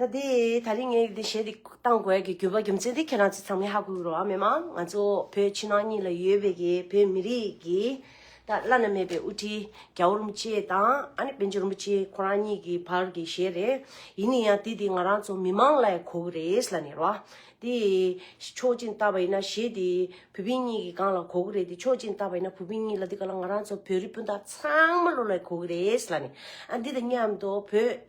ད་དེ་ད་རིང་ངས་འདི་ཞལ་འདེབས་གཏང་དགོས་ཀྱི་གྱུར་པ་རྒྱུ་མཚན་དེ་ཁྱེད་རང་ཚོས་ཚང་མས་ཧ་གོ་རོགས་ཨ་མེ་མ་ང་ཚོ་བོད་ཕྱི་ནང་གཉིས་ལ་ཡོད་པའི་གི་བོད་མི་རིགས་ཀྱི་ད་བླ་ན་མེད་པའི་དབུ་ཁྲིད་རྒྱ་བོ་རིན་པོ་ཆེ་དང་ཨ་ནེ་དཔལ་འབྱོར་རིན་པོ་ཆེ་ཁོ་རང་གཉིས་ཀྱི་བར་གྱི་ཞལ་རེད་ཡིན་ནི་ཡང་དེ་དེ་ང་རང་ཚོ་མི་མང་ལ་ཡང་གོ་གི་རེད་ལ་ནི་རོ་ཨ་དེ་ཕྱོགས་གཅིག་ནས་བལྟ་བ་ཡིན་ན་ཞེ་དེ་བུ་ཕི་གཉིས་ཀྱི་སྒང་ལ་གོ་གི་རེད་དེ་ཕྱོགས་གཅིག་ནས་བལྟ་བ་ཡིན་ན་བུ་ཕི་གཉིས་ལ་དེ་ག་ལ་ང་རང་ཚོ་བོད་རིགས་སྤུན་ཟླ་ཚང་མ་ལོ་ལ་ཡང་གོ་གི་རེད་ལ་ནི་ཨ་འདི་དང་མཉམ་དུ་བོད།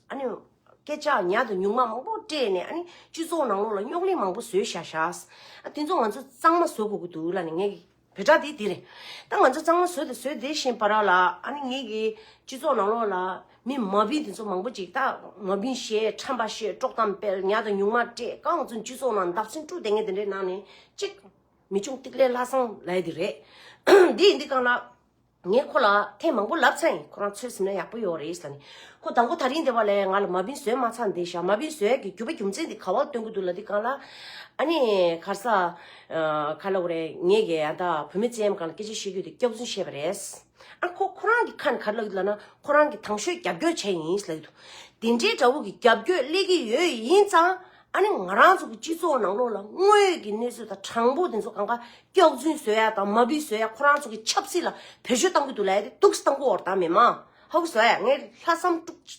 ཨ་ནུ། སྐད་ཆ་ཉག་དང་ཉུང་མ་མང་པོ་སྤྲད་ནས་ཨ་ནི་སྤྱི་ཚོགས་ནང་ལོགས་ལ་རྙོག་གླེང་མང་པོ་བཟོས་ཤག་ཤག། ཨ་དེ་ཚོ་ང་ཚོ་གཙང་མ་བཟོ་དགོས་ཀྱི་འདུག་ལ་ནི་ངས་ཀྱི་བོད་དྲ་དེ་དེ་རེད། ད་ང་ཚོ་གཙང་མ་བཟོས་ཏེ་བཟོས་བསྡད་བཞིན་པ་ར་ལ་ཨ་ནི་ངས་ཀྱི་སྤྱི་ཚོགས་ནང་ལོགས་ལ་མི་མ་བིན་དེ་ཚོ་མང་པོ་ཅིག་ད་མ་བིན་བཤད་ཁྲམ་པ་བཤད་དཀྲོག་གཏམ་སྤེལ་ཉག་དང་ཉུང་མ་སྤྲད་ཀ་ང་ཚོ་སྤྱི་ཚོགས་ནང་འདག་ཚིང་དཀྲུག་དེ་ངས་དེ་འདྲའི་ནང་ནས་གཅིག། མི་ཆུང་ཏིག་ལེ་ལྷ་བསང་ལའི་དེ་རེད། འདི་ཡིན་འདི་གང་ལགས། ངས་ཁོ་ལ་ཐེངས་མང་པོ་ལབ་ཚེ་ཁོ་རང་ཚོད་ཟིན་ན་ཡག་པོ་ཡོད་རེད་ཟེར་ནས། ཁོ་དང་པོ་ད་རིང་འདས་པ་ལས་ང་ལ་མ་བིན་བཟོས་མ་ཚར་འདི་ཞག་མ་བིན་བཟོས་ཀྱི་རྒྱུ་བ་རྒྱུ་མཚན་དེ་ག་བར་སྟོན་གི་འདུག་ལ་འདི་གང་ལ་ཨ་ནི་གར་ས་ག་ལ་འོ་རེད་ངས་ཀྱི་ད་བུད་མེད་ཅན་གང་ལ་སྐད་ཆ་བཤད་རྒྱུ་དེ་སྐྱག་རྫུན་བཤད་པ་རེད། ཨ་ཁོ་ཁོ་རང་གི་ཁ་ནས་ག་རེ་ལབ་ཀྱི་ལབ་ན་ཁོ་རང་གི་དང་ཤོས་རྒྱབ་སྐྱོར་བྱས་ཡིན་ལབ་ཀྱི་འདུག་དེ་འདྲའི་དགྲ་བོ་གི་རྒྱབ་སྐྱོད་སླེ་གི་ཡོད་ཡིན་ཙང་ཨ་ནི་ང་རང་ཚོ་གི་སྤྱི་ཚོགས་ནང་ལོགས་ལ་དངོས་ཡོད་ཀྱི་གནས་ཚུལ་དང་དྲང་པོ་དེ་ཚོ་གང་ག་སྐྱོག་རྫུན་བཟོས་ཡ་དང་མ་བུ་བཟོས་ཡ་ཁོ་རང་ཚོ་གི་ཆབ་སྲིད་ལ་བེད་སྤྱོད་གཏང་གི་འདུག་ལ་ཡ་དེ་ཏུགས་སི་དང་པོ་འོར་དང་མེད་མ་ཧ་བུ་བཟོ་ཡ་ངའི་ལྷ་བསམ་དཀྲུགས་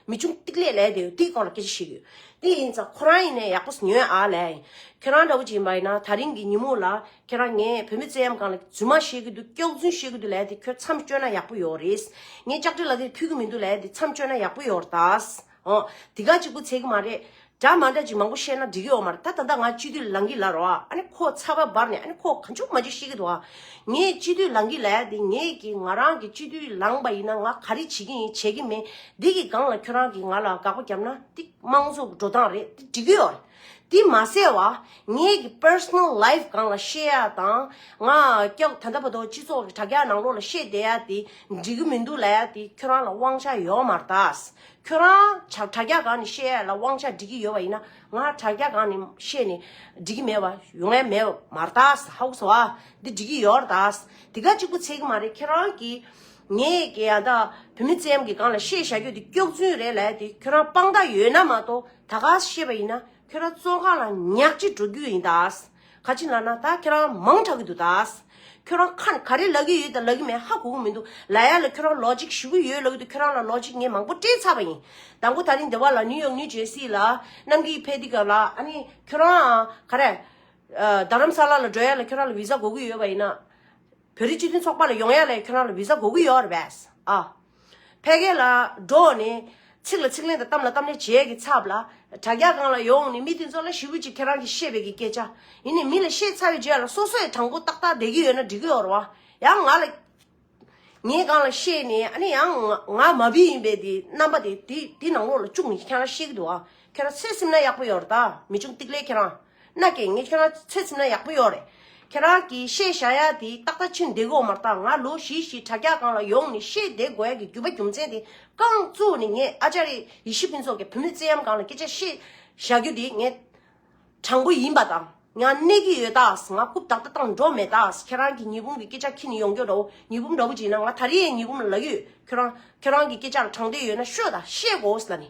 མི་ཆུང་ཏིག་ལེ་ལ་ཡ་དེ་དེའི་སྐོར་ལ་སྐད་ཆ་བཤད་གི་ཡོད་དེ་ཡིན་ཙང་ཁོ་རང་ཡིན་ནའི་ཡག་པོ་ཉོན་ཨ་ལ་ཡ་ཡིན་ཁྱེད་རང་འདྲ་བོ་ཅིག་ཡིན་པ་ཡིན་ན་ད་རིང་གི་ཉིན་མོ་ལ་ཁྱེད་རང་ངས་བུད་མེད་བཙལ་ཡམ་གང་ལ་རྫུན་མ་བཤད་གི་འདུག་སྐྱོག་རྫུན་བཤད་གི་འདུག་ལ་ཡ་དེ་ཁྱོད་མཚམས་གཅོད་ན་ཡག་པོ་ཡོད་རེད་ངས་ལྕགས་དྲི་ལ་དེར་ཕུལ་གི་མི་འདུག་ལ་ཡ་དེ་མཚམས་གཅོད་ན་ཡག་པོ་ཡོད་རེད། ཨོ། དེ་ག་གཅིག་པུ་ཚད་གི་མ་རེད། འདྲ་མ་འདྲ་ཅིག་མང་པོ་བཤད་ན་འགྲིག་གི་ཡོད་མ་རེད་ད་ད་ད་ང་སྤྱི་འཐུས་ལང་གི་ལ་རོ་ཨ། ཨ་ནི་ཁོ་ཚ་བ་འབར་ནས་ཨ་ནི་ཁོ་ག་འཇུག་མ་འཇུག་བཤད་གི་འདུག་ཨ། ངས་སྤྱི་འཐུས་ལང་གི་ལ་ཡ་དེ་ངས་ཀྱི་ང་རང་གི་སྤྱི་འཐུས་ལང་པ་ཡིན་ན་ང་ག་རེ་བྱེད་ཀྱི་ཡིན་བྱེད་ཀྱི་མེད་འདི་གི་སྒང་ལ་ཁྱོད་རང་གི་ང་ལ་དགག་པ་རྒྱབ་ན་འདི་དམངས་གཙོ་འགྲོ་སྟངས་རེད་འདི་འགྲིག་གི་ཡོད་རེད། དེ་མ་ཟད་བ་ངེད་ཀྱི Personal Life གང་ལ་བཤད་ཡ་དང་ང་ཀྱག་ད་ལྟ་བ་དོ་སྤྱི་ཚོགས་ཀྱི་དྲ་རྒྱ་ནང་ལོག་ལ་བཤད་བསྡད་ཡ་དེ་འགྲིག་གི་མི་འདུག་ལ་ཡ་དེ་ཁྱོད་རང་ལ་དབང་ཆ་ཡོད་མ་རྟགས་ཁྱོད་རང་དྲ་རྒྱ་གང་ནས་བཤད་ཡ་ལ་དབང་ཆ་འགྲིག་གི་ཡོད་བ་ཡིན་ན་ང་དྲ་རྒྱ་གང་ནས་བཤད་ནས་འགྲིག་གི་མེད་བ་ཡོད་ངེས་མེད་མ་རྟགས་ཧཱུྃ་སྭ་བྷཱ་འདི་འགྲིག་གི་ཡོད་རྟགས་དེ་ག་གཅིག་པུ་ཚད་གི་མ་རེད་ཁྱེད་རང་གི་ངེད་ཀྱི་ཡ་ད་བུད་མེད་ཙམ་གྱི་གང་ལ་བཤད་བཞག་རྒྱུ་དེ་སྐྱོགས་རྫུན་རེད་ལ་ཡ་དེ་ཁྱོད་རང་དཔང་རྟགས་ཡོད་ན་མ་གཏོགས། ད་ག་ཤེས་པ་ཡིན་ན་ཁྱོད་རང་བཙོན་ཁང་ལ་ཉག་གཅིག་འགྲོ་རྒྱུ་ཡིན་ད། ག་ཅིག་ལ་ན་ད་ཁྱོད་རང་མང་དྲག་གི་འདུག་ད། ཁྱོད་རང་ཁ་ག་རེ་ལབ་གི་ཡོད་དང་ལབ་གི་མེད་ཧ་གོ་གི་མི་འདུག་ལ་ཡ་ལ་ཁྱོད་རང་ལོ་གཅིག་ཞུ་གི་ཡོད་ལབ་གི་འདུག་ཁྱོད་རང་ལ་ལོ་གཅིག་ངས་མང་པོ་སྤྲད་ཚར་བ་ཡིན། ད་མགོ་ད་རིང་འདི་བ་ལ་ནིའུ་ཡོག་ནིའུ་ཇེར་སི་ལ་གནམ་གིས་ཕེ་ཏི་ག་ལ་ཨ་ནི་ཁྱོད་རང་ག་རེ། རྡ་རམ་ས་ལ་ལ་འགྲོ་ཡ་ལ་ཁྱོད་རང་ལ་བི་ཟ་གོ་གི་ཡོད་བ་ཡིན་ན། བོད་རིགས་སྤྱི་མཐུན་ཚོགས་པ་ལ་ཡོང་ཡ་ལས་ཁྱོད་རང་ལ་བི་ཟ་གོ་གི་ཡོད་རེད་བས། ཨ། ཕལ་སྐད་ལ་འགྲོ་ནས། ཚིག་ལ་ཚིག་ལན་དང་གཏམ་ལ་གཏམ་ལན་བྱེད་ཡ་གི་ཚབ་ལ། དྲ་རྒྱ་སྒང་ལ་ཡོང་ནས་མི་དེ་ཚོ་ལ་ཞི་བུ་ཅིག་ཁྱེད་རང་གི་ཤེས་པའི་གི་སྐད་ཆ། ཡིན་ནས་མི་ལ་བཤད་ཚར་བའི་རྗེས་ལ་སོ་སོས་དྲང་པོ་ཏག་ཏག་བསྡད་གི་ཡོད་ན་འགྲིག་གི་ཡོད་རེད་བ། ཡང་ང་ལ། ངས་སྒང་ལ་བཤད་ནས་ཨ་ནི་ཡང། ང་མ་བི་ཡིན་པའི་དེ་རྣམ་པ་དེ་དེ་ནང་ལོགས་ལ་བཅུག་ནས་ཁྱེད་རང་ཤེས་གི་འདུག་ཨ། ཁྱོད་རང་ཚེ་སེམས་ན་ཡག་པོ་ཡོད་རེད་ད། མི་ཆུང་ཏིག་ལེ་ཁྱེད་རང། ནག་གི་ངས་ཁྱོད་རང་ཚོད་ཚིམ་ན་ཡག་པོ་ཡོད་རེད། ཁྱེད་རང་གིས་བཤད་བྱ་ཡ་དེ་ཏག་ཏག་ཕྱིར་འདེད་དགོས་མ་ཏག་ང་ལོ་བཞི་བཞི་དྲ་རྒྱ་སྒང་ལ་ཡོང་ནས་བཤད་འདེད་དགོས་ཡ་གི་རྒྱུ་བ་རྒྱུ་མཚན་དེ་རྐང་བཙུགས་ནས་ངས་ཨ་ཅཱ་རེ་ཡེ་ཤི་ཕིན་སོགས་ཀྱི་བུ་མོས་བཙན་གཡམ་སྒང་ལ་སྐད་ཆ་བཤད་བཞག་རྒྱུ་དེ་ངས་དྲང་པོ་ཡིན་པ་དང་ཡང་གནས་ཀྱི་ཡོད་ཏགས་ང་རྐུབ་ཏག་ཏག་བཏང་འགྲོ་མེད་ཏགས་ཁྱེད་རང་གིས་ཉི་འབུམ་གྱི་སྐད་ཆ་ཁྱི་ནི་ཡོང་གྱོ་འདྲ་བོ་ཉི་འབུམ་འདྲ་བོ་བྱིན་ན་ང་ད་རེས་ཡས་ཉི་འབུམ་ལ་ལག་ཡོད་ཁྱོད་རང་ཁྱོད་རང་གི་སྐད་ཆ་ལ་དྲང་བདེན་ཡོད་ན་ཤོད་ད་བཤད་དགོས་ལ་ནི།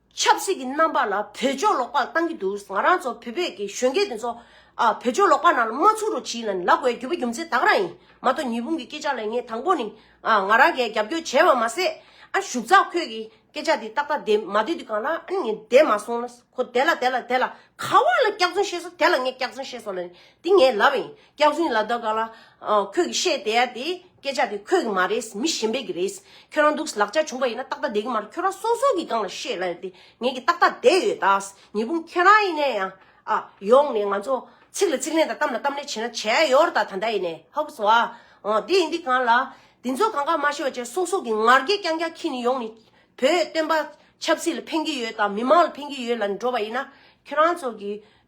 ཆབ་སྲིད་ཀྱི་རྣམ་པ་ལ་བོད་ལྗོངས་ལོག་པར་བཏང་གི་འདུག་ང་རང་ཚོ་བོད་པའི་གི་གཞོན་སྐྱེས་དེ་ཚོ་བོད་ལྗོངས་ལོག་པ་ནང་ལ་མ་ཚུགས་རོགས་བྱིས་ལ་ནི་ལ་དགོས་རྒྱུ་བ་རྒྱུ་མཚན་དག་རང་ཡིན་མ་གཏོགས་ཉི་ཧྥུང་གི་སྐད་ཆ་ལ་ངས་དང་པོ་ནི་ང་རང་གས་རྒྱབ་སྐྱོར་བྱས་བ་མ་ཟད་ཨ་ཞུགས་ཚགས་ཁོས་གི་སྐད་ཆ་དེ་ཏག་ཏག་དེ་མ་བསྡུས་དུས་གང་ལ་ཨ་ནི་ངས་བསྡད་མ་སོང་ན་ཁོ་དེ་ལ་དེ་ལ་དེ་ལ་ག་བ་ལ་སྐྱག་རྫུན་བཤད་སོང་དེ་ལ་ངས་སྐྱག་རྫུན་བཤད་སོང་ལ་ནི་དེ་ངས་ལབ་བ་ཡིན་སྐྱག་རྫུན་ལ་དོ་ག་ལ། ཁོས་གི་བཤད་དེ་ཡ་དེ། སྐད་ཆ་དེ་ཁོས་གི་མ་རེད་མི་གཞན་པས་གི་རེད། ཁྱོད་རང་སྡུག་ལག་ཆ་བྱུང་པ་ཡིན་ན་ཏག་ཏག་བསྡད་གི་མ་རེད་ཁྱོད་རང་སོ་སོ་གི་སྒང་ལ་བཤད་ལ་དེ་ངས་གི་ཏག་ཏག་བསྡད་ཡོད་ད། ཉི་འབུམ་ཁྱོད་རང་ཡིན་ནས་ཡང། ཨ། ཡོང་ནས་ང་ཚོ། ཚིག་ལ་ཚིག་ལན་དང་གཏམ་ལ་གཏམ་ལན་བྱེད་ན་བྱས་ཡོར་ད་ད་འདྲ་ཡིན་ནས་ཧཱུྃ་བྷཱུྃ་བྷཱུྃ། འོ་དེ་ཡིན་དེ་གང་ལ། དེ་ཚོ་གང་གང་མ་ཤེས་པ་ཅན་སོ་སོ་གི་ངར་སྐད་རྐྱང་རྐྱང་ཁྱི་ནས་ཡོང་ནས། བོད་སྟོན་པ། ཆབ་སྲིད་ལ་ཕན་གི་ཡོད་དང་མི་མང་ལ་ཕན་གི་ཡོད་ལ་འགྲོ་བ་ཡིན་ན། ཁྱོད་རང་ཚོ་གི།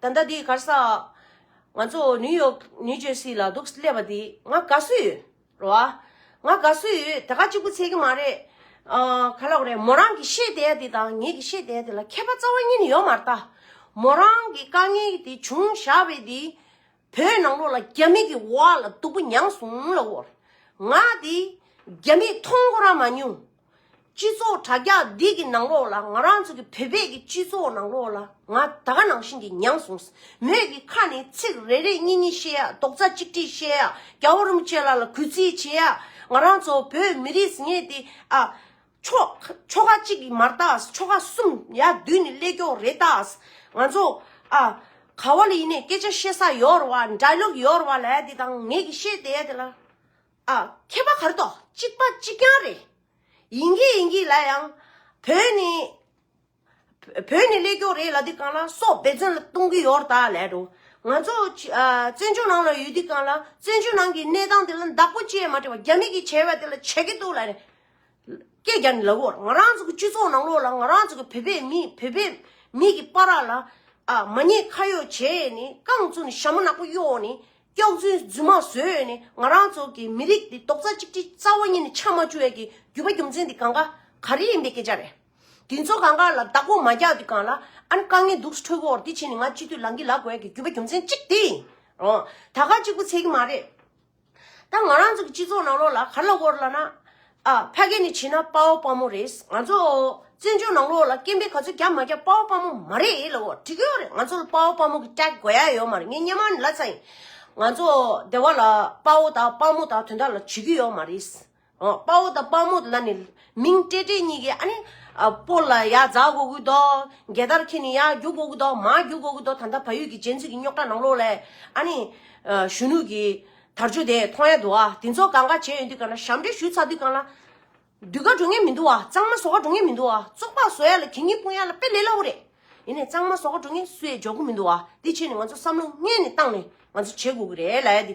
ད་ལྟ་དེའི་གར་ས། ང་ཚོ་ནིའུ་ཡོག་ནིའུ་ཇོས་སི་ལ་འདུག་སླེབས་པ་དེ་ང་དགའ་བསུ་ཡོད་རོ་ཨ། ང་དགའ་བསུ་ཡོད་དེ་ག་གཅིག་པུ་ཚད་ཀྱི་མ་རེད། ག་ལོག་རེད་མོ་རང་གི་ཤེས་ལྡན་དེ་དང་ངེད་ཀྱི་ཤེས་ལྡན་དེ་ལ་ཁྱད་པ་རྩ་བ་ཉིད་ཡོད་མ་རྟ། མོ་རང་གི་དཀའ་ངལ་དེ་བྱུང་བཞག་པས་དེ། བོད་ནང་ལོག་ལ་རྒྱ་མི་གི་བ་ལ་སྡུག་པོ་མྱངས་སོང་ལ་འོ། ང་དེ་རྒྱ་མི་མཐོང་ཀོ་ར་མ་མྱོང། སྤྱི་ཚོགས་དྲ་རྒྱ་འདི་གི་ནང་ལོགས་ལ་ང་རང་ཚོ་གི་བོད་པས་ཀྱི་སྤྱི་ཚོགས་ནང་ལོགས་ལ་ང་ད་ག་ནང་བཞིན་གྱི་མྱངས་སོང་མོད་ཀྱི་ཁ་ནས་ཚིག་རེ་རེ་གཉིས་གཉིས་བཤད་ཡག་རྡོག་རྩ་གཅིག་གཅིག་བཤད་ཡག་རྒྱ་བོ་རུམ་བཅས་ལ་ལ་གུས་བརྩི་བྱེད་ཡག་ང་རང་ཚོ་བོད་མི་རིས་ངེས་ཏེ་ཨ། ཆོག་ཆོ་ག་གཅིག་གིས་མ་རྟགས་ཨ་ཆོ་ག་གསུམ་ཡ་བདུན་ནི་ཀླད་ཀྱོག་རེ་རྟགས་ཨ། ང་ཚོ་ཨ། ག་བ་ལ་ཡིན་ནས་སྐད་ཆ་བཤད་ས་ཡོད་རེད་བ་འདྲ་ལོག་ཡོད་རེད་བ་ལ་ཡ་དེ་དང་ངེད་ཀྱི་བཤད་དེ་ཡ་དེ་ལ། ཨ། མཁས་པ་གར་དོགས་གཅིག་པ་གཅིག་རྐྱང་རེད། ཡིན་གྱི་ཡིན་གྱི་ལ་ཡང། བོད་ནི། བོད་ནི་ཀླད་སྐྱོག་རེད་ལ་འདི་གང་ལ་སོགས་འབད་བརྩོན་ལ་གཏོང་གི་ཡོར་ད་ལད་འགྲོ། ང་ཚོ། བཙན་བྱོལ་ནང་ལ་ཡོད་འདི་གང་ལ་བཙན་བྱོལ་ནང་གི་གནས་སྟངས་དེ་ལ་འདག་པོ་བཅས་མ་དྲི་བ་རྒྱ་མིག་གིས་བྱས་པ་དེ་ལ་བྱས་གི་འདུག་ལ། སྐད་རྒྱག་ནི་ལགས་འོར་ང་རང་ཚོ་གི་སྤྱི་ཚོགས་ནང་ལོགས་ལ་ང་རང་ཚོ་གི་བོད་པའི་མི་བོད་པའི་མི་གི་པ་རག་ལ་ཨ་མ་ཉེས་ཁ་ཡོག་བྱས་ཡས་ནི་རྐང་བཙུགས་ནི་ཞྭ་མོ་ནག་པོ་གཡོག་ནི་སྐྱོག་རྫུན་རྫུན་མ་བཟོས་ཡས་ནི་ང་རང་ཚོ་གི་མི་རིགས་འདི་རྡོག་རྩ་གཅིག་སྒྲིལ་རྩ་བ་ཉིད་ནི་ཆགས་མ་བཅུག་ཡས་གི་རྒྱུ་བ་རྒྱུ་མཚན་འདི་གང་ག་ག་རེ་ཡིན་པའི་སྐད་ཆ་རེད་འདི་ཚོ་གང་ག་ལ་བདག་པོ་མ་རྒྱག་དུས་གང་ལ་ཨ་ནི་དཀའ་ངལ་འདུག་ཁྲོལ་བོ་འོར་འདི་བྱས་ནི་ང་སྤྱི་འཐུས་ལང་གི་ལ་དགོས་ཡས་གི་རྒྱུ་བ་རྒྱུ་མཚན་གཅིག་འདི་འོང་ད་ག་གཅིག་པུ་ཚད་གི་མ་རེད། ད་ང་རང་ཚོ་གི་སྤྱི་ཚོགས་ནང་ལོགས་ལ་ག་ལ་བོར་ལ་ན། ཨ་ཕ་སྐད་ནི་བྱིན་ན་དཔའ་བོ་དཔའ་མོ་རེད། ང་ཚོ་བཙན་བྱོལ་ནང་ལོགས་ལ་སྐད་འབེལ་ག་ཚོད་རྒྱབ་མ་རྒྱབ་དཔའ་བོ་དཔའ་མོ་མ་རེད་ལ་བོར་འགྲིག་གི་ཡོད་རེད་ང་ཚོ་ལ་དཔའ་བོ་དཔའ་མོ་གི tag དགོས་ཡ་ཡོད་མ་རེད་ངས་སྙན་མར་ནི་ལ་ཚ་ཡིན། ང་ཚོ་སྡེ་བ་ལ་དཔའ་བོ་དང་དཔའ་མོ་དང་དོན་དག་ལ་བྱེད་ཀྱི་ཡོད་མ་རེད། དཔའ་བོ་དང་དཔའ་མོ་ལ་ནི། མིང་སྤྲད་སྤྲད་གཉིས་ཀའི་ཨ་ནི། སྤོ་ལ་ཡ་བཟའ་དགོ་གི་དོ། རྒྱལ་དར་ཁྱེད་ནི་ཡ་རྒྱུག་དགོ་གི་དོ། མ་རྒྱུག་དགོ་གི་དོ་ད་ད་བ་ཡུལ་གྱི་རྗེ་འཛིན་གྱི་རྙོག་དྲ་ནང་ལོགས་ལས། ཨ་ནི། གཞོན་ནུ་གྱི། དར་ཆུ་དེ་མཐོང་ཡ་འདུག་ཨ། དེ་ཚོ་གང་ག་བྱས་ཡོད་འདུག་ག་ན་ཞབས་འདྲེན་ཞུ་ཚར་འདུག་ག་ན། དུད་ཁ་འགྲོ་ངེས་མི་འདུག་ཨ་གཙང་མ་བཟོ་ཁ་འགྲོ་ངེས་མི་འདུག་ཨ་བཙོག་པག་བཟོ་ཡ་ལ་གད་སྙིགས་སྤུངས་ཡ་ལ་དཔེ་ལེགས་སླ་བོ་རེད། ཡིན་ནས་གཙང་མ་བཟོ་ཁ་འགྲོ་ངེས་སུ་ཡས་འཇོག་གི་མི་འདུག་ཨ་དེ་ཆེད་ནས་ང་ཚོ་བསམ་བློ་བསྔལ་ནས་བཏང་ནས་ང་ཚོ་བྱེད་དགོ་གི་རེད་ལ་ཡ་དེ།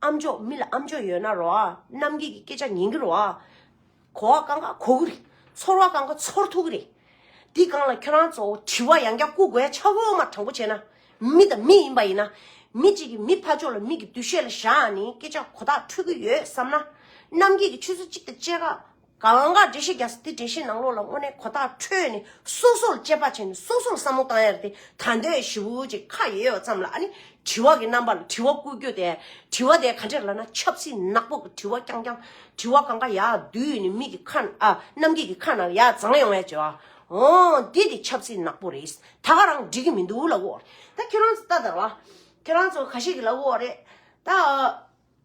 ཨམ་ཅོག་མི་ལ་ཨམ་ཅོག་ཡོད་ན་རོགས་ཨ། རྣམ་རྒྱལ་གྱི་སྐད་ཆ་ཉན་གྱི་རོགས་ཨ། གོ་བ་གང་ག་གོ་གི་རེད། ཚོར་བ་གང་ག་ཚོར་ཐུབ་ཀྱི་རེད། འདི་གང་ལ་ཁྱོད་རང་ཚོ་དྲི་བ་ཡང་བསྐྱར་བསྐུར་དགོས་ཆགས་འོ་མ་དྲང་པོ་བྱས་ན། མི་དང་མི་ཡིན་པ་ཡིན་ན། མི་གཅིག་གིས་མི་ཕ་ཅོག་ལ་མིག་གི་བདུད་བཤད་ལ་བཞག་ནས་སྐད་ཆ་གོ་ཐག་འཕྲོད་ཀྱི་ཡོད་བསམ་ན། རྣམ་རྒྱལ་གྱི་ཆུ་ཚོད་གཅིག་དང་བཅས་ཁ་གང་གཱ་འདྲེ་ཤི་རྒྱ་སྟེ་འདྲེ་ཤི་ནང་ལོགས་ལ་དངོས་གནས་གོ་རྟགས་འཕྲོད་ནས་སོ་སོར་དཔྱད་པ་བྱས་ནས་སོ་སོར་བསམ་བློ་བཏང་ཡར་ཏེ་ད་ལྟའི་བཞི་བོ་གཅིག་ཁ་ཡོད་ཡོད་ཙམ་ལ་ནི་དྲི་བ་གི་རྣམ་པ་ལ་དྲི་བ་བསྐུར་རྒྱུ་དེ་དྲི་བ་དེ་ག་འདྲས་ལ་ན་ཆབ་སྲིད་ནག་པོ་གི་དྲི་བ་རྐྱང་རྐྱང་དྲི་བ་གང་གཱ་ཡག་བདུད་ནི་མིག་གི་ཁ་ན་ཨ་གནམ་སྐས་ཀྱི་ཁ་ན་ཡག་བརྫངས་ཡོང་བའི་བྱ་བ་འོ་འདི་དེ་ཆབ་སྲིད་ནག་པོ་རེད་ད་ག་རང་འགྲིག་གི་མི་འདུག་ལ་འོ་རེད་ད་ཁྱོད་རང་ཚོ་ལྟ་དང་ལ་ཁྱོད་རང་ཚོ་ག་ཞིག་གི་ལ་འོ་རེད་ད།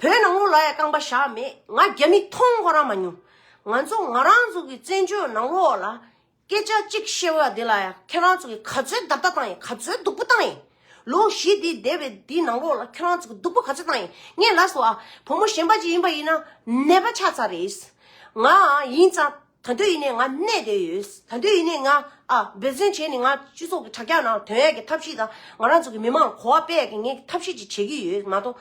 བོད་ནང་ལོགས་ལ་ཡང་རྐང་པ་བཞག་མེད་ང་རྒྱ་མི་མཐོང་ཁོ་རང་མ་མྱོང། ང་ཚོ་ང་རང་ཚོ་གི་བཙན་བྱོལ་ནང་ལོགས་ལ་སྐད་ཆ་གཅིག་བཤད་བ་དེ་ལ་ཡང་ཁྱེད་རང་ཚོ་གི་ག་ཚོད་བརྡབ་བརྡབ་བཏང་ཡིན་ག་ཚོད་སྡུག་པོ་བཏང་ཡིན། ལོ་བཞི་འདི་འདས་པའི་འདི་ནང་ལོགས་ལ་ཁྱེད་རང་ཚོ་གི་སྡུག་པོ་ག་ཚོད་བཏང་ཡིན་ངས་ལབ་སོང་ཨ་བུ་མོ་གཞན་པ་ཅིག་ཡིན་པ་ཡིན་ན་ནད་པ་ཆགས་ཚར་རེད་ང་ཡིན་ཙང། ད་དུས་ཡིན་ནས་ང་གནས་བསྡད་ཡོད། ད་དུས་ཡིན་ནས་ང་འབད་བརྩོན་བྱས་ནས་ང་སྤྱི་ཚོགས་ཀྱི་དྲ་རྒྱ་ནང་དོན་ཡག་གི་ཐབས་ཤེས་དང་ང་རང་ཚོ་གི་མི་མང་གོ་བ་དཔེ་ཡག་གི་ངས་ཐབས་ཤེས་ཅིག་བྱེད་ཀྱི་ཡོད་མ་གཏོགས།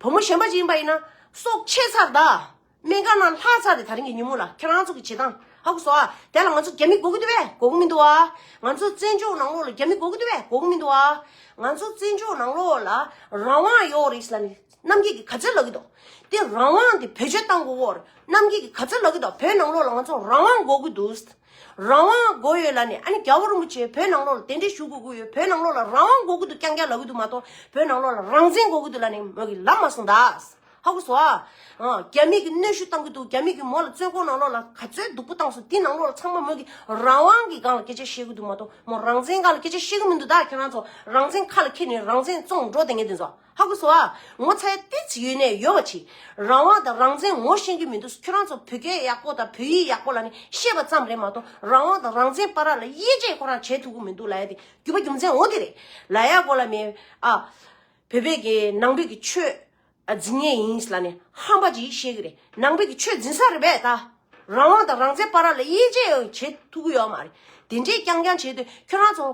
བུ་མོ་གཞན་པ་ཅིག་ཡིན་པ་ཡིན་ན། སྲོག་ཆད་ཚར་གདའ། སྨན་ཁང་ནང་ལྷག་ཚར་ཏེ་ད་རིང་གི་ཉིན་མོ་ལ་ཁྱེད་རང་ཚོ་གི་བྱེད་སྟངས་ཧ་གོ་སོག་ཨ། དེ་ལ་ང་ཚོ་རྒྱ་མི་གོ་གི་འདུག་བས་གོ་གི་མི་འདུག་ཨ། ང་ཚོ་བཙན་བྱོལ་ནང་ལོགས་ལ་རྒྱ་མི་གོ་གི་འདུག་བས་གོ་གི་མི་འདུག་ཨ། ང་ཚོ་བཙན་བྱོལ་ནང་ལོགས་ལ་རང་དབང་ཡོད་རེད་ཟེར་ན་ནི། རྣམ་རྒྱལ་གྱིས་ག་ཚོད་ལབ་ཀྱི་འདུག་དེ་རང་དབང་དེ་བེད་སྤྱོད་གཏང་དགོས་འོར་རྣམ་རྒྱལ་གྱིས་ག་ཚོད་ལབ་ཀྱི་འདུག་བོད་ནང་ལོགས་ལ་ང་ཚོ་རང་དབང་དགོས་ཀྱི་འདུག་རང་དབང་དགོས་ཡོད་ལ་ནི་ཨ་ནི་རྒྱ་བོ་རིན་པོ་ཆེ་བོད་ནང་ལོགས་ལ་དེ་འདྲས་ཞུ་དགོས་ཀྱི་ཡོད་བོད་ནང་ལོགས་ལ་རང་དབང་དགོས་ཀྱི་འདུག་རྐྱང་རྐྱང་ལབ་ཀྱི་འདུག་མ་གཏོགས་བོད་ནང་ལོགས་ལ་རང་བཙན་དགོས་ཀྱི་འདུག་ལ་ནི་མོ་གི་ལབ་མ་སོང་ད། ཧ་གོ་སོ་ཨ། རྒྱ་མིས་ཀྱི་གནོད་ཤུགས་གཏང་གྱི་འདུག་རྒྱ་མིས་ཀྱི་མོ་ལ་བཙོན་ཁོག་ནང་ལོགས་ལ་ག་ཚོད་སྡུག་པོ་གཏང་སོང་དེ་ནང་ལོགས་ལ་ཚང་མ་མོ་གི་རང་དབང་གི་སྒང་ལ་སྐད་ཆ་བཤད་ཀྱི་འདུག་མ་གཏོགས་མོ་རང་བཙན་སྒང་ལ་སྐད་ཆ་བཤད་ཀྱི་མི་འདུག་ད་ཁྱེད་རང་ཚོ་རང་བཙན་ཁ་ལ་འཁྱེར་ནས་རང་བཙན་བཙོང་འགྲོ་དེ་ངས་དེ་ཚོ། ཧ་གོ་སོ་ཨ། ངོ་ཚ་ཡ་ཏི་ཙི་ཡོད་ནས་ཡོད་མ་མཆིས། རང་དབང་དང་རང་བཙན་ངོ་ཤེས་ཀྱི་མི་འདུག་ཁྱོད་རང་ཚོ་བོད་སྐད་ཡག་པོ་དང་བོད་ཡིག་ཡག་པོ་ལ་ནི་ཤེས་པ་ཙམ་རེད་མ་གཏོགས་རང་དབང་དང་རང་བཙན་པ་ར་ལ་དབྱེ་འབྱེད་ཁོ་རང་བྱེད་ཐུབ་གི་མི་འདུག་ལ་ཡ་དེ་རྒྱུ་བ་རྒྱུ་མཚན་ངོ་དེ་རེད། ལ་ཡ་གོ་ལ་མེད་ཨ། བོད་པའི་གི་ནང་བོད་ཀྱི་ཆོས་འཛིན་ངེས་ཡིན་ལ་ནི་ཧམ་པ་ཅིག་ཤེས་ཀྱི་རེད་ནང་བོད་ཀྱི་ཆོས་འཛིན་ས་རེད་པས་ད། རང་དབང་དང་རང་བཙན་པ་ར་ལ་དབྱེ་འབྱེད་ཡང་བྱེད་ཐུབ་ཀྱི་ཡོད་མ་རེད། དེ་འདྲའི་རྐྱང་རྐྱང་བྱས་དུས་ཁྱོད་རང་ཚོ།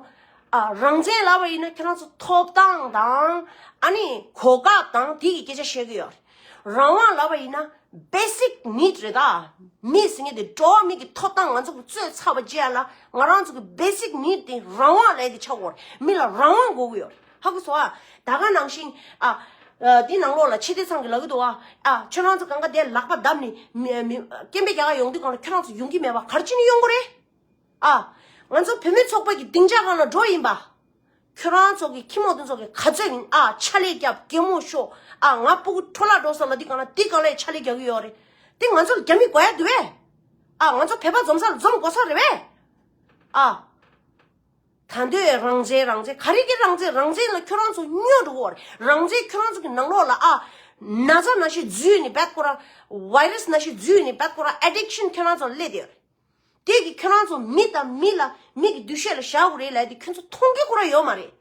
རང་བཙན་ལབ་པ་ཡིན་ན་ཁྱོད་རང་ཚོ་ཐོབ་ཐང་དང། ཨ་ནི་གོ་སྐབས་དང་དེ་གི་སྐད་ཆ་བཤད་ཀྱི་ཡོད་རེད། རང་དབང་ལབ་པ་ཡིན་ན basic need རེད་ད། མི་ཟེར་ངེས་དེ་འགྲོ་བ་མི་གི་ཐོབ་ཐང་ང་ཚོ་གི་རྩོད་ཚར་བ་བཅས་ལ་ང་རང་ཚོ་གི basic need དེ་རང་དབང་ལས་དེ་ཆགས་དགོས་རེད་མི་ལ་རང་དབང་དགོས་ཀྱི་ཡོད་རེད། ཧ་གོ་སོ་ཨ། ད་ག་ནང་བཞིན་ཨ། དེ་ནང་ལོགས་ལ་ཕྱི་བདེ་ཚང་གི་ལག་གི་དུ་ཨ། ཁྱོད་རང་ཚོ་གང་ག་བདེ་ལག་པ་བརྡབས་ནས། སྐྱེན་པའི་རྒྱ་གར་ཡོང་དུས་གང་ལ་ཁྱོད་རང་ཚོ་ཡོང་གི་མེད་པ་གར་ཅི་ནས་ཡོང་གོ་རེད་ཨ། ང་ཚོ་བུད་མེད་ཚོགས་པ་གི་སྡིངས་ཆ་གང་ལ་འགྲོ་ཡིན་པ། ཁྱོད་རང་ཚོ་གི་ཁྱི་མོ་དེ་ཚོ་གི་ག་ཚོད་ཡིན་ཨ་ཆ་ལེ་རྒྱབ་རྒན་མོ་ཤོ་ཨ་ང་སྤུ་གུ་ཁྲོ་ལག་འགྲོ་བསམ་ན་དེ་གང་ལ་དེ་གང་ལས་ཆ་ལེ་རྒྱག་གི་ཡོད་རེད་དེ་ང་ཚོ་ལ་རྒྱ་མི་དགོས་ཡ་དུ་བས་ཨ་ང་ཚོ་བོད་པ་འཛོམས་ས་ལ་འཛོམས་དགོ་ས་རེད་བས་ཨ། ད་འདོད་རང་བྱས་རང་བྱས་ག་རེ་གི་རང་བྱས་རང་བྱས་ལ་ཁྱོད་རང་ཚོ་སྨྱོ་འགྲོ་གོ་རང་བྱས་ཁྱོད་རང་ཚོ་གི་ནང་ལོག་ལ་ཨ། ན་ཚ་ན་ཤི་རྫུས་ནི་བད་ཀོ་ར། Virus ན་ཤི་རྫུས་ནི་བད་ཀོ་ར Addiction ཁྱོད་རང་ཚོ་ལ་སླེབས་ཏེ་ཡོད། དེ་གི་ཁྱོད་རང་ཚོ་མི་དང་མི་ལ་མི་གི་འདུ་ཤེས་ལ་བཞག་གོ་རེད་ལ་དེ་ཁྱོད་ཚོ་མཐོང་གི་ཁོ་ར་ཡོད་མ་རེད།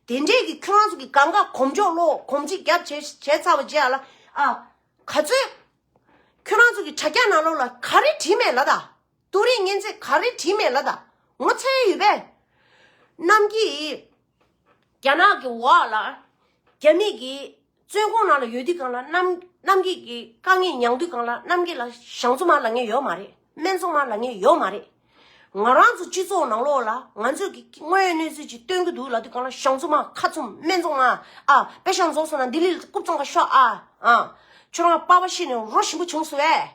དེ་འདྲས་གི་ཁྱོད་རང་ཚོ་གི་གང་ག་གོམས་འཇོག་ལོ་གོམས་ཅི་རྒྱབ་བྱས་བྱས་ཚར་བ་རྗེས་ཨ་ལ་ཨ། ག་ཚོད། ཁྱོད་རང་ཚོ་གི་དྲ་རྒྱ་ནང་ལོག་ལ་ག་རེ་བྲིས་མེད་ལ་ད། ཏུ་རིགས་ངན་ཚིག་ག་རེ་བྲིས་མེད་ལ་ད་ངོ་ཚའི་ཡོད་པས། གནམ་གྱིས་རྒྱ་ནག་གི་འོག་ལ་རྒྱ་མིས་ཀྱི་བཙོན་ཁོང་ནང་ལ་ཡོད་དུས་གང་ལ་གནམ་གནམ་གྱིས་ཀྱི་དཀའ་ངལ་མྱངས་དུས་གང་ལ་གནམ་གྱིས་ལ་ཞང་ཚོ་མ་ལ་ངས་ཡོད་མ་རེད་སྨན་ཚོ་མ་ལ་ངས་ཡོད་མ་རེད། ང་རང་ཚོ་སྤྱི་ཚོགས་ནང་ལོག་ལ་ང་ཚོས་ཀྱི་དངོས་ཡོད་གནས་ཚུལ་ཅིག་སྟོན་གྱི་འདུག་ལ་དུས་གང་ལ་ཞང་ཚོ་མ་ཁ་ཚུམ་སྨན་ཚོ་མ་ཨ་པེ་ཞང་རྫོགས་སོང་ན་ལྡི་ལི་ལ་རྐུབ་བཙོང་ག་ཤོག་ཨ་ཨ། ཁྱོད་རང་པ་པ་ཤི་ནས་རོ་ཞིམ་པོ་བྱུང་སོ་ཨེ།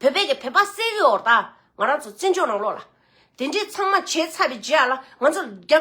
བོད་པའི་གི་བོད་པ་སེ་གི་འོག་དང་ང་རང་ཚོ་བཙན་བྱོལ་ནང་ལོག་ལ། དེ་འདྲས་ཚང་མ་བྱས་ཚར་བའི་རྗེས་ལ་ང་ཚོ་རྒྱ་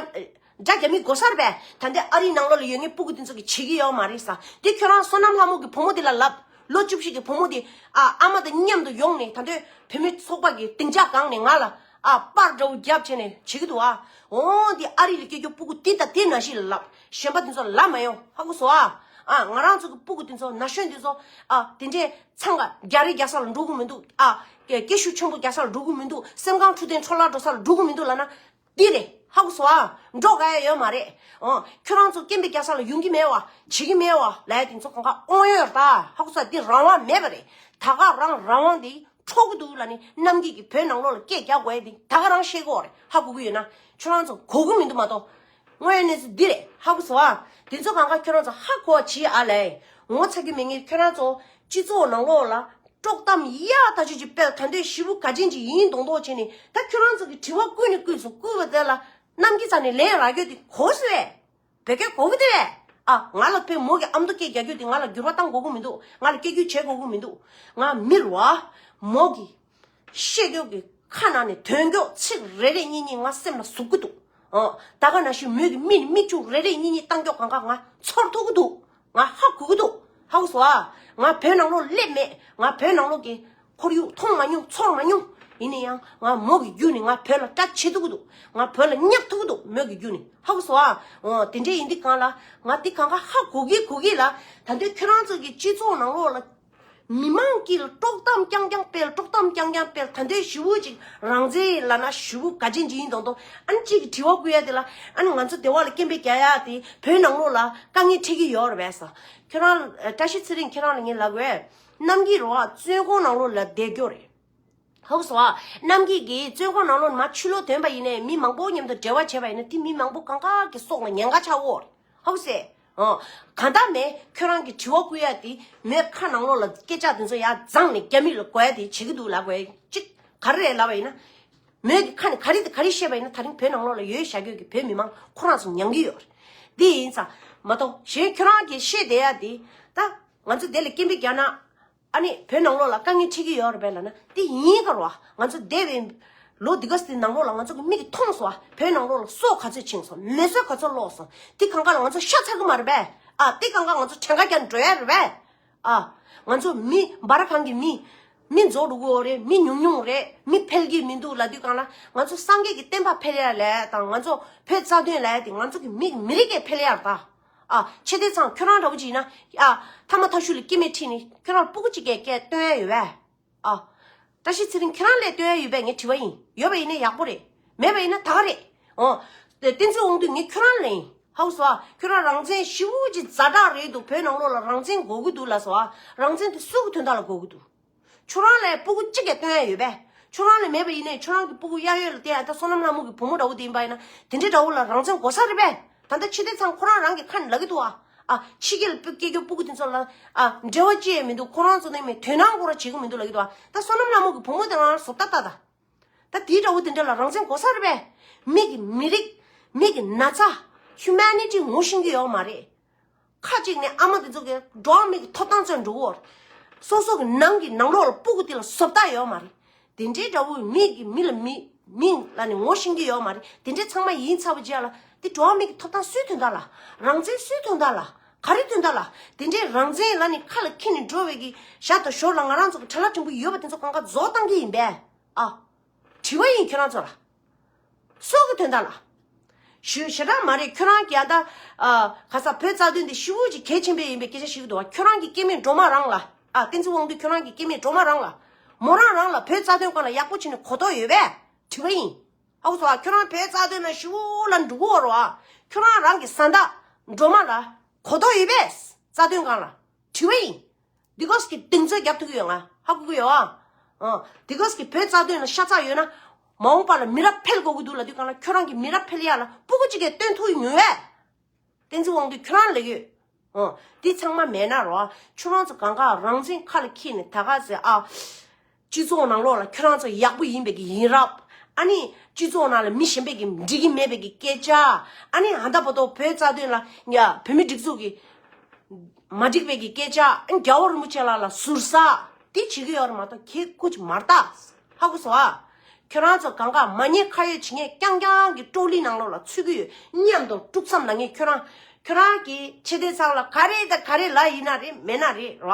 རྒྱ་རྒྱ་མི་དགོ་སར་བས་ད་འདས་ཨ་རིའི་ནང་ལོག་ལ་ཡོད་ངེས་སྤུ་གུ་དེ་ཚོ་གི་བྱེད་གི་ཡོད་མ་རེད་ས་དེ་ཁྱོད་རང་བསོད་ནམས་ལྷ་མོ་གི་བུ་མོ་དེ་ལ་ལབ་ལོ་བཅུ་བཞི་གི་བུ་མོ་དེ་ཨ་ཨ་མ་དང་མཉམ་དུ་ཡོང་ནས་ད་འདོད་བོད་མི་ཚོགས་པ་གི་སྡིངས་ཆ་གང་ནས་ང་ལ་ཨ་པར་འདྲ་བོ་རྒྱབ་བྱས་ནས་བྱེད་གི་འདུག་ཨ་འོ་འདི་ཨ་རི་ལ་སྐྱེས་རྒྱུ་སྤུ་གུ་དེ་དང་དེ་ན་ཞིག་ལ་ལབ་གཞན་པ་དེ་ཚོ་ལ་ལབ་མ་ཡོང་ཧ་གོ་སོ་ཨ་ཨ་ང་རང་ཚོ་གི་སྤུ་གུ་དེ་ཚོ་ན་གཞོན་དེ་ཚོ་ཨ་དེ་འདྲས་འཚང་ཀ་རྒྱ་རི་རྒྱ་ས་ལ་འགྲོ་གི་མི་འདུག་ཨ། སྐད་ཤུགས་ཆེན་པོ་རྒྱ་ས་ལ་འགྲོ་གི་མི་འདུག་སེམས་ཁམས་འཁྲུག་ལྡན་འཕྲོ་བརླག་འགྲོ་ས་ལ་འགྲོ་གི་མི་འདུག་ལབ་ན། འདི་རེད་ཧ་གོ་སོང་ཨ། འགྲོ་དགའ་ཡ་ཡོད་མ་རེད། འོང། ཁྱོད་རང་ཚོ་སྐྱེ་འཕེལ་རྒྱ་ས་ལ་ཡོང་གི་མེད་བ། བྱེད་ཀྱི་མེད་བ། ལ་ཡ་དེ་ཚོ་གང་ག་དབང་ཡོད་ར་ད། ཧ་གོ་ས་འདི་རང་དབང་མེད་པ་རེད། ད་ག་རང་རང་དབང་དེ་འཕྲོག་གི་འདུག་ལ་ནི་གནམ་སྐྱིད་ཀྱི་བོད་ནང་ལོག་ལ་སྐད་རྒྱག་དགོས་ཡ་དེ་ད་ག་རང་ཤེས་གི་འོག་རེད་ཧ་གོ་གི་ཡོད་ན། ཁྱོད་རང་ཚོ་གོ་གི་མི་འདུག་མ་གཏོགས། དངོས་ཡོད་གནས་ཚུལ་འདི་རེད་ཧ་གོ་ཚོ་ཨ། དེ་ཚོ་གང་ག་ཁྱོད་རང་ཚོ་ཧ་གོ་བ་གྱིས་ཨ་ལས། ངོ་ཚ་རྒྱུ་མེད་ངས་ཁྱོད་རང་ཚོ་སྤྱི་ཚོགས་ནང་ལོགས་ལ། དཀྲོག་གཏམ་གཡའ་ད་ཆོས་ཀྱི་དཔལ་ད་འདོད་གཞི་བུ་ག་ཅན་གྱི་ཡིན་མདོག་མདོག་བྱས་ནས་ད་ཁྱོད་རང་ཚོ་གི་དྲི་བ་བསྐུལ་ནས་བསྐུལ་སོང་བསྐུལ་བ་དེ་ལ། གནམ་གྱི་རྩ་ནས་ལན་རག་རྒྱུ་དེ་གོ་སི་རེད། བོད་སྐད་གོ་གི་དེ་རེད་ཨ། ང་ལ་ཕོ་མོ་གི་ཨ་མདོ་སྐད་རྒྱག་རྒྱུ་དེ་ང་ལ་འགྱུར་བ་བཏང་དགོས་གི་མི་འདུག་ང་ལ་སྐད་རྒྱུད་བྱེད་དགོས་གི་མི་འདུག་ང་མི་རུ་ཨ། མོ་གི། བཤད་རྒྱུད་ཀྱི་ཁ་ནང་ནས་དོན་འགྱོགས་ཚིག་རེ་རེ་གཉིས་གཉིས་ང་སེམས་ལ་ཟུག་གི་འདུག་ད་ག་ན་ཞུ་མོད་ཀྱི་མི་ནི་མིག་ཆུ་རེ་རེ་གཉིས་གཉིས་གཏང་འགྱོགས་གང་ག་ང་ཚོར་ཐུག་གི་འདུག་ང་ཧ་གོ་གི་འདུག་ཧ་གོ་སོ་ཨ། ང་བོད་ནང་ལོག་སླེབས་མེད་ང་བོད་ནང་ལོག་གི་ཁོར་ཡུག་མཐོང་མ་མྱོང་ཚོར་མ་མྱོང་ཡིན་ན་ཡང་ང་མོ་གི་རྒྱུད་ནས་ང་བོད་ལ་སྐྲག་བྱེད་ཐུག་གི་འདུག་ང་བོད་ལ་བསྙག་ཐུག་གི་འདུག་མོད་ཀྱི་རྒྱུད་ནས་ཧ་གོ་སོ་ཨ། དེ་འདྲས་ཡིན་དུས་གང་ལ་ང་དེ་གང་ག་ཧ་གོ་གི་གོ་གི་ལ་ད་དུས་ཁྱོད་རང་ཚོ་གི་སྤྱི་ཚོགས་ནང་ལོག་ལ། མི་མང་གིས་དཀྲོག་གཏམ་རྐྱང་རྐྱང་སྤེལ་དཀྲོག་གཏམ་རྐྱང་རྐྱང་སྤེལ་ད་ལྟའི་བཞུ་བོ་ཅིག་རང་བཙན་ལ་ན་བཞུ་བོ་ག་ཅི་འཇི་ཡིན་དང་དང་ཨ་ནི་ཅིག་གི་དྲི་བ་བསྐུལ་ཡ་དེ་ལ་ཨ་ནི་ང་ཚོ་སྡེ་བ་ལ་སྐྱེན་པའི་རྒྱ་ཡག་དེ་བོད་ནང་ལོག་ལ་དཀའ་ངལ་འཕྲད་ཀྱི་ཡོད་རེད་བས་ཁྱོད་རང་བཀྲ་ཤིས་ཚེ་རིང་ཁྱོད་རང་ལ་ངའི་ལག་བས་གནམ་གྱི་རོ་བ་བཙོན་ཁང་ནང་ལོག་ལ་བསྡད་རྒྱོ་རེད། ཧཱུྃ་སོགས་རྣམས་ཀྱིས་ཀྱིས་བཙོན་ཁང་ནང་ལོ་ན་ཆུ་ལོག་དོན་པ་ཡིན་ནས་མི་མང་པོ་མཉམ་དུ་འབྲེལ་བ་བྱས་པ་ཡིན་ན་དེ་མི་མང་པོ་གང་གཱ་གི་སོགས་ལ་ཉན་ག་ཆ་འོ། ཧཱུྃ་སེ། གང་དག་མས་ཁྱོད་རང་གི་དྲི་བ་བསྐུལ་ཡ་དེ་མོས་ཁ་ནང་ལོག་ལ་སྐད་ཆ་དེ་ཚོ་ཡ་བརྫངས་ནས་རྒྱ་མི་ལ་གོ་ཡ་དེ་བྱེད་ཀྱི་འདུག་ལ་གོ་ཅིག་ག་རེ་རེད་ལབ་པ་ཡིན་ན། མོས་ཀྱི་ཁ་ནས་ག་རེ་དང་ག་རེ་བཤད་པ་ཡིན་ན་ད་རིང་བོད་ནང་ལོག་ལ་ཡོད་ཤ་ཁྱོད་ཀྱི་བོད་མི་མང་ཁོ་རང་ཚོ་ཉན་གྱི་ཡོད། དེ་ཡིན་ཙང་མ་གཏོགས་གཞན་ཁྱོད་རང་གིས་ཤེས་བསྡད་ཡ་དེ་ད་ང་ཚོ་དེ་ལ་སྐད་འབོད་རྒྱག་ན། ཨ་ནི་བོད་ནང་ལོགས་ལ་དཀའ་ངལ་འཕྲད་ཀྱི་ཡོད་རེད་པས་ལ་ན་དེ་ཡིན་ཁར་བ་ང་ཚོ་འདས་བའི་ལོ་འདི་ག་ཟིག་ནང་ལོགས་ལ་ང་ཚོ་གི་མིག་གི་མཐོང་སོང་བ་བོད་ནང་ལོགས་ལ་སོ་ག་ཚོད་ཕྱིན་སོང་མེད་སོ་ག་ཚོད་ལོགས་སོང་དེ་གང་ག་ལ་ང་ཚོ་ཤ་ཚ་གི་མ་རེད་པས་ཨ་དེ་གང་ག་ང་ཚོ་བྲན་ཁ་རྒྱག་འགྲོ་ཡ་རེད་པས་ཨ་ང་ཚོ་མི་འབའ་ར་གང་གི་མི་མི་འཛོགས་འགྲོ་གི་འོ་རེད་མི་ཉུང་ཉུང་རེད་མི་ཕལ་གྱི་མི་འདུག་ལ་དུས་གང་ལ་ང་ཚོ་སངས་རྒྱས་ཀྱི་བསྟན་པ་ཕལ་ཡ་ལས་དང་ང་ཚོ་བོད་རྩ་དོན་ལས་དེ་ང་ཚོ་གི་མིག་མི་རིགས་ཀྱི་ཕལ་ཡར་དང། ཨ། ཆེ་བདེ་ཚང་ཁྱོད་རང་འདྲ་བོ་ཅིག་ཡིན་ན། ཨ། ཐ་མ་ཐ་ཤུལ་ལ་སྐྱེས་མེད་ཁྲིད་ནི་ཁྱོད་རང་སྤུ་གུ་གཅིག་གས་སྐད་སྟོན་ཡས་ཡོད་བས། ཨ། བཀྲ་ཤིས་ཚེ་རིང་ཁྱོད་རང་ལས་སྟོན་ཡས་ཡོད་པས་ངས་དྲི་བ་ཡིན། ཡོད་པ་ཡིན་ན་ཡག་པོ་རེད། མེད་པ་ཡིན་ན་ད་ག་རེད། འོ། བསྟན་འཛིན་དབང་འདུས་ངས་ཁྱོད་རང་ལས་ཡིན། ཧཱུྃ་སོ། ཁྱོད་རང་རང་བཙན་ཧྲིལ་བོ་ཅིག་རྫ་དྲག་རེད་འདུག་བོད་ནང་ལོགས་ལ་རང་བཙན་དགོས་ཀྱི་འདུག་ལ་སོ། རང་བཙན་དེ་སུ་གི་དོན་དག་ལ་དགོས་ཀྱི་འདུག། ཁྱོད་རང་ལས་སྤུ་གུ་ཅི་གས་སྟོན་ཡ་ཡོད་པས། ཁྱོད་རང་ལས་མེད་པ་ཡིན་ནའི་ཁྱོད་རང་གི་སྤུ་གུ་གཡག་ཡོད་ལ་དེ་ཡང་ད་བསོད་ནམས་ལྷ་མོ་གི་བུ་མོ་འདྲ་བོ་དེ་ཡིན་པ་ཡིན་ན་དེ་འདྲའི་དགྲ་བོ་ལ་རང་བཙན་གོ་ས་རེད་པས། ད་ལྟ་ཕྱི་དེ་ཚང་ཁོ་རང་རང་གི་ཁ་ནས་ལག་གི་འདུག་ཨ། ཨ། ཕྱི་རྒྱལ་ལ་སྐྱེ་རྒྱུའི་སྤུ་གུ་དེ་ཚོ་ལ་ཨ། འབྲེལ་བ་ཅི་ཡང་མི་འདུག་ཁོ་རང་ཚོ་ནི་མི་དོན་རང་གོ་ར་བྱེད་གི་མི་འདུག་ལག་གི་འདུག་ཨ། ད་བསོད་ནམས་ལྷ་མོ་གི་བུ་མོ་དེ་རང་བཟོ་ལྟ་ལྟ་ད། ད་དེའི་དགྲ་བོ་དེ་འདྲ་ལ་རང་བཙན་གོ་ས་རེད་པས། མིག་གི་མི་རིགས། མིག་གི་ན་ཚ། Humanity ངོ་ཤེས་ཀྱི་ཡོག་མ་རེད། ཁ་ཅིག་ནི་ཨ་མ་དེ་ཚོ་གི་འགྲོ་བ་མིའི་ཐོབ་ཐང་རྩོད་འགྲོ་བོ། སོ་སོ་གི་ནང་གི་ནང་ལོག་ལ་སྤུག་གི་དེ་ལ་བཟོ་བལྟ་ཡོད་མ་རེད། དེ་འདྲའི་དགྲ་བོ་མིག་གི་མི་ལ་མི་མིང་ལ་ནི་ངོ་ཤེས་ཀྱི་ཡོད་མ་རེད་དེ་འདྲའི་ཚང་མ་ཡིན་ཚར་བ་རྗེས་ལ་དེ་འགྲོ་བ་མིའི་ཐོབ་ཐང་སུས་ཐོན་ད་ལ་རང་བཙན་སུས་ཐོན་ད་ལ་ག་རེ་ཐོན་ད་ལ་དེ་འདྲའི་རང་བཙན་ལ་ནི་ཁ་ལ་འཁྱེར་ནས་འགྲོ་བའི་གི་ཞག་དང་ཞོར་ལ་ང་རང་ཚོ་གི་དྲ་ལག་ཕྲན་བུ་ཡོད་པ་དེ་ཚོ་གང་ག་བཟོ་བཏང་གི་ཡིན་པས་ཨ། དྲི་བ་ཡིན་ཁྱོད་རང་ཚོ་ལ་སྲོག་གི་དོན་དག་ལ། ཞུ་ཞེ་དྲག་མ་རེད་ཁྱོད་རང་གྱ་ད། ག་ས་བོད་རྩ་དོན་དེ་ཤི་བོ་ཅིག་གལ་ཆེན་པོའི་ཡིན་པའི་སྐད་ཆ་ཞིག་གི་འདུག་བ་ཁྱོད་རང་གྱི་སྐྱེ་མེད་འགྲོ་མ་རང་ལ། བསྟན་འཛིན་དབང་འདུས་ཁྱོད་རང་གྱི་སྐྱེ་མེད་འགྲོ་མ་རང་ལ། མོ་རང་རང་ལ་བོད་རྩ་དོན་སྐོར་ལ་ཡག་པོ་བྱས་ནས་གོ་རྟོགས་ཡོད་པས་དྲི་བ་ཡིན། ཨ་ཁུ་ཟེར་བ་ཁྱོད་རང་བོད་རྩ་དོན་ན་ཤི་བོ་ལ་འདྲུ་གུ་བོར་བ། ཁྱོད་རང་རང་གི་བཟའ་ཟླ། འགྲོ་མ་ལ། གོ་རྟོགས་ཡོད་པས་རྩ་དོན་གང་ལ། དྲི་བ་ཡིན། དེ་གོས་ཀྱི་གདེང་ཚོད་རྒྱབ་ཐུག་གི་ཡོད་ང་ཧ་གོ་གི་ཡོད་ཨ། དེ་གོས་ཀྱི་བོད་རྩ་དོན་ལ་ཤ་ཚ་ཡོད་ན། མ་འོངས་པ་ལ་མི་རབས་འཕེལ་དགོས་ཀྱི་འདུག་ལ་དུས་གང་ལ་ཁྱོད་རང་གི་མི་རབས་འཕེལ་ཡག་ལ་སྤུ་གུ་གཅིག་གས་སྟོན་ཐུག་ཡོད་ངེས། བསྟན་འཛིན་དབང་འདུས་ཁྱོད་རང་ལེགས་ཡོད། འདི་ཚང་མ་མེད་ན་རོ། ཁྱོད་རང་ཚོ་གང་ག་རང་བཙན་ཁ་ལ་འཁྱེར་ནས་ད་ག་ཟེ་ཨ། སྤྱི་ཚོགས་ནང་ལོགས་ལ་ཁྱོད་རང་ཚོ་ཡག་པོ་ཡིན་པའི་གི་ཡིན་རབ། ཨ་ནི། སྤྱི་ཚོགས་ནང་ལ་མི་གཞན་པའི་གི་འགྲིག་གི་མེད་པའི་གི་སྐད་ཆ། ཨ་ནི་ཧ་ད་བོ་ཏོ་བོད་རྩ་དོན་ལ་ཡ་བོད་མི་སྒྲིག་འཛུགས་གི། མ་འགྲིག་པའི་གི་སྐད་ཆ་ཨ་ནི་རྒྱ་བོ་རིན་པོ་ཆེ་ལགས་ལ་ཟུར་ཟ། དེ་བྱེད་གི་ཡོད་ར་མ་ཏོག་ཁྱེད་སྐུ་ཅི་མར་ཏག། ཧ་གོ་སོ་ཨ། ཁྱོད་རང་ཚོ་གང་གང་མ་ཉེས་ཁ་ཡོད་བྱེད་ངས་རྐྱང་རྐྱང་གི་ཀྲོའུ་ལི་ནང་ལོགས་ལ་ཚུད་གི་ཡོད་སྙམ་དོ་དཀྲུག་མཚམས་ལ་ངས་ཁྱོད་རང། ཁྱོད་རང་གི་ཆེ་དེ་ཚང་ལ་ག་རེ་དང་ག་རེ་ལ་ཡིན་ན་རེད་མེད་ན་རེད་ལ།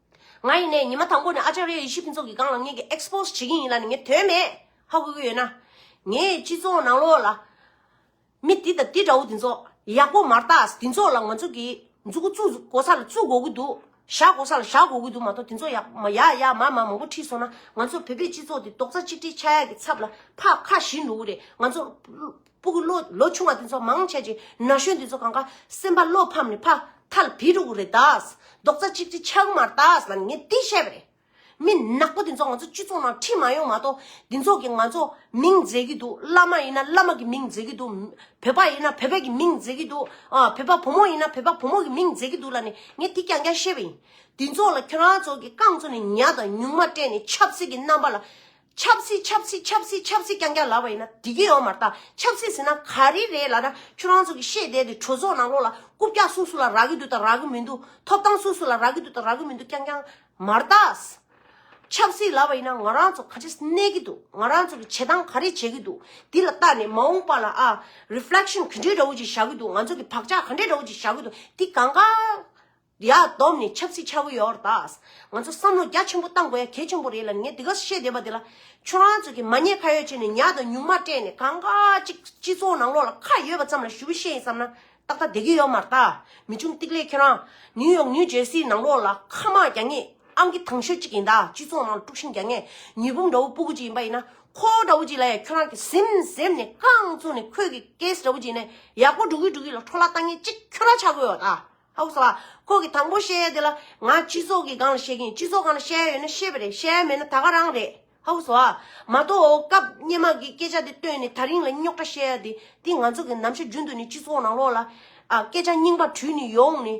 ང་ཡིན་ནས་ཉི་མ་དང་པོ་ནས་ཨ་ཅཱར་ཡ་ཡེ་ཤེས་ཕུན་ཚོགས་ཀྱི་སྒང་ལ་ངེད་ཀྱིས Expose བྱེད་ཀྱིན་ཡིན་ལ་ནི་ངས་དོན་མེད་ཧ་གོ་གི་ཡོད་ན། ངས་སྤྱི་ཚོགས་ནང་ལོགས་ལ། མི་འདི་དང་འདི་འདྲ་བོ་འདི་ཚོ་ཡག་པོ་མ་རྟགས་འདི་ཚོ་ལ་ང་ཚོ་གིས་འཛུགས་འགོ་ཚུགས་འགོ་ས་ལ་ཚུགས་འགོ་གི་འདུག་བཞག་འགོ་ས་ལ་བཞག་འགོ་གི་འདུག་མ་གཏོགས་འདི་ཚོ་ཡག་མ་ཡག་ཡག་མ་མ་མང་པོ་ཁྲིད་སོང་ན་ང་ཚོ་བོད་པའི་སྤྱི་ཚོགས་འདི་རྡོག་རྩ་གཅིག་སྒྲིལ་ཆགས་ཡག་གི་ཚབ་ལ་ཕག་ཁ་ཞིག་འགྲོ་གི་རེད་ང་ཚོ་པུ་གུ་བློ་ལོ་ཆུང་བ་དེ་ཚོ་མང་ཆེ་གྱི་ན་གཞོན་དེ་ཚོ་གང་ག་སེམས་པ་བློ་ཕམ་ནས་ཕ་ཐ་ལ་བི་རུ་གུ་རེ་དྭགས་རྡོག་རྩ་གཅིག་སྒྲིལ་ཆགས་གི་མ་རེད་དྭགས་ལ་ངས་དེ་བཤད་པ་རེད། མི་ནག་པོ་དེ་ཚོ་ང་ཚོ་སྤྱི་ཚོགས་ནང་ཁྲིད་མ་ཡོང་མ་གཏོགས་དེ་ཚོ་གིས་ང་ཚོ་མིང་བརྫེས་ཀྱི་འདུག་བླ་མ་ཡིན་ན་བླ་མ་གི་མིང་བརྫེས་ཀྱི་འདུག་བོད་པ་ཡིན་ན་བོད་པའི་གི་མིང་བརྫེས་ཀྱི་འདུག་ཨ་བོད་པ་བུ་མོ་ཡིན་ན་བོད་པ་བུ་མོ་གི་མིང་བརྫེས་ཀྱི་འདུག་ལ་ནི་ངས་དེ་རྐྱང་རྐྱང་བཤད་པ་ཡིན། དེ་ཚོ་ལ་ཁྱོད་རང་ཚོ་གི་རྐང་ཚོ་ནས་ཉག་དང་ཉུང་མ་སྤྲད་ནས་ཆབ་སྲིད་ཀྱི་རྣམ་པ་ལ་ཆབ་སྲིད་ཆབ་སྲིད་ཆབ་སྲིད་ཆབ་སྲིད་རྐྱང་རྐྱང་ལབ་པ་ཡིན་ན་དེ་གི་ཡོག་མ་རྟ་ཆབ་སྲིད་ཟེར་ན་ག་རེ་རེད་ལ་ན་ཁྱོད་རང་ཚོ་གི་ཤེས་བསྡད་དེ་གྲོས་ཚོགས་ནང་ལོག་ལ་རྐུབ་བཀྱག་སུ་སུ་ལ་རག་གི་འདུག་དང་རག་གི་མི་འདུག་ཐོབ་ཐང་སུ་སུ་ལ་རག་གི་འདུག་དང་རག་གི་མི་འདུག་རྐྱང་རྐྱང་མ་རྟ། ཆབ་སྲིད་ལབ་པ་ཡིན་ན་ང་རང་ཚོ་ག་རེ་གནས་གི་འདུག་ང་རང་ཚོ་གི་བྱེད་སྟངས་ག་རེ་བྱེད་གི་འདུག་དེ་ལ་བལྟ་ནས་མ་འོངས་པ་ལ་ཨ Reflection ག་འདྲའི་འདྲ་བོ་ཅིག་བཞག་གི་འདུག་ང་ཚོ་གི་བག་ཆགས་ག་འདྲའི་འདྲ་བོ་ཅིག་བཞག་གི་འདུག་དེ་གང་ག་འདི་ཡག་སྡོམ་ནི་ཆབ་སྲིད་ཆག་གི་ཡོད་ར་ད། ང་ཚོ་བསམ་བློ་རྒྱ་ཆེན་པོ་གཏང་དགོས་ཡ་གལ་ཆེན་པོ་རེད་ལ་ངས་དེ་ག་བཤད་བསྡད་པ་དེ་ལ། ཁྱོད་རང་ཚོ་གིས་མ་ཉེས་ཁ་ཡོད་བྱས་ནས་ཉག་དང་ཉུང་མ་སྤྲད་ནས་གང་ག་ཅིག་སྤྱི་ཚོགས་ནང་ལོག་ལ་ཁ་ཡོད་པ་ཙམ་ལ་ཞུ་བི་བཤད་ཡིན་བསམ་ན་ཏག་ཏག་བསྡད་གི་ཡོད་མ་ར་ད། མི་ཆུང་ཏིག་ལེ་ཁྱོད་རང། ནིའུ་ཡོག་ནིའུ་ཇེར་སིའི་ནང་ལོག་ལ་ཁ་དམག་རྒྱག་ངེས་ཨང་ཀི་དང་ཤོས་ཅིག་ཡིན་ད་སྤྱི་ཚོགས་ནང་ལ་དཀྲུགས་ཤིང་རྒྱག་ངེས་མྱི་བུམ་འདྲ་བོ་སྤུ་གུ་ཅིག་ཡིན་པ་ཡིན་ན་ཁོ་བོ་འདྲ་བོ་ཅིག་ལ་ཡ་ཁྱོད་རང་གིས་ཟིམ་ཟིམ་ནས་རྐང་བཙུགས་ནས་ཁོས་གི་ཀེས་འདྲ་བོ་ཅིག་ཡིན་ན་ཡག་པོ་འགྲོ་གི་འགྲོ་གི་ལ་འཕྲོ་བརླག་གཏང་ངེས་ཅིག་ཁྱོད་རང་ཆག་གི་ཡོད་ར་ད། ཨོ་ཟ། ཁོ་གིས་དང་པོ་བཤད་ཡ་དེ་ལ། ང་སྤྱི་ཚོགས་ཀྱི་སྒང་ལ་བཤད་ཀྱིན་སྤྱི་ཚོགས་སྒང་ལ་བཤད་ཡ་ཡོད་ན་བཤད་པ་རེད་བཤད་ཡ་མེད་ན་ད་ག་རང་རེད། ཨོ་ཟ། མ་གཏོགས་འོ་སྐབས་སྙན་མ་གིས་སྐད་ཆ་དེ་བཏོན་ནས་ད་རིང་ལ་རྙོག་དྲ་བཤད་ཡ་དེ་དེ་ང་ཚོ་གི་ནམ་ཞར་རྒྱུན་དུ་ནས་སྤྱི་ཚོགས་ནང་ལོག་ལ། སྐད་ཆ་རྙིང་པ་དྲུད་ནས་ཡོང་ནས།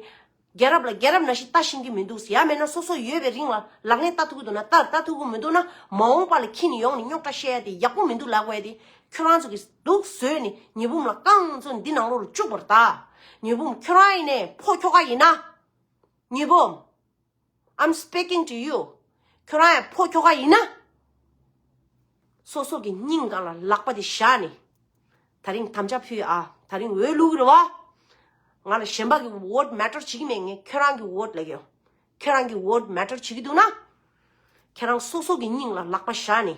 རྒྱལ་རབས་ལ་རྒྱལ་རབས་ན་བཞིན་ལྟ་བཞིན་གྱི་མི་འདུག་ཡ་མེད་ན་སོ་སོ་ཡོད་པའི་རིང་ལ་ལག་ལེན་ལྟ་ཐུབ་ཀྱི་འདུག་ན་ལྟ་ལྟ་ཐུབ་ཀྱི་མི་འདུག་ན་མ་འོངས་པ་ལ་ཁྱི་ནས་ཡོང་ནས་རྙོག་དྲ་བཤད་ཡ་དེ་ཡག་པོ་མི་འདུག་ལགས་པས་དེ་ཁྱོད་རང་ཚོ་གིས། དུག་ཟོས་ནས་ཉི་བུམ་ལ་བཀང་ཚུལ་འདི་ནང་ལོགས་ལ་བཅུག་པར་གདའ། ཉི་བུམ་ཁྱོད་རང་ཡིན་ནས་ཕོ་ཁྱོ་ག་ཡིན་ན། ཉི་བུམ། I'm speaking to you། ཁྱོད་རང་ཡང་ཕོ་ཁྱོ་ག་ཡིན་ན། སོ་སོ་གི་སྙིང་ག་ལ་ལག་པ་དེ་བཞག་ནས། ད་རིང་དམ་བཅའ་ཕུལ་ཨ། ད་རིང་འོས་བླུག་རེད་བ། ང་ལ་གཞན་པ་གི vote matter བྱེད་ཀྱི་མེད་ངས་ཁྱོད་རང་གི vote ལས་ཀྱི། ཁྱོད་རང་གི vote matter བྱེད་ཀྱི་འདུག་ན། ཁྱོད་རང་སོ་སོ་གི་སྙིང་ལ་ལག་པ་བཞག་ནས།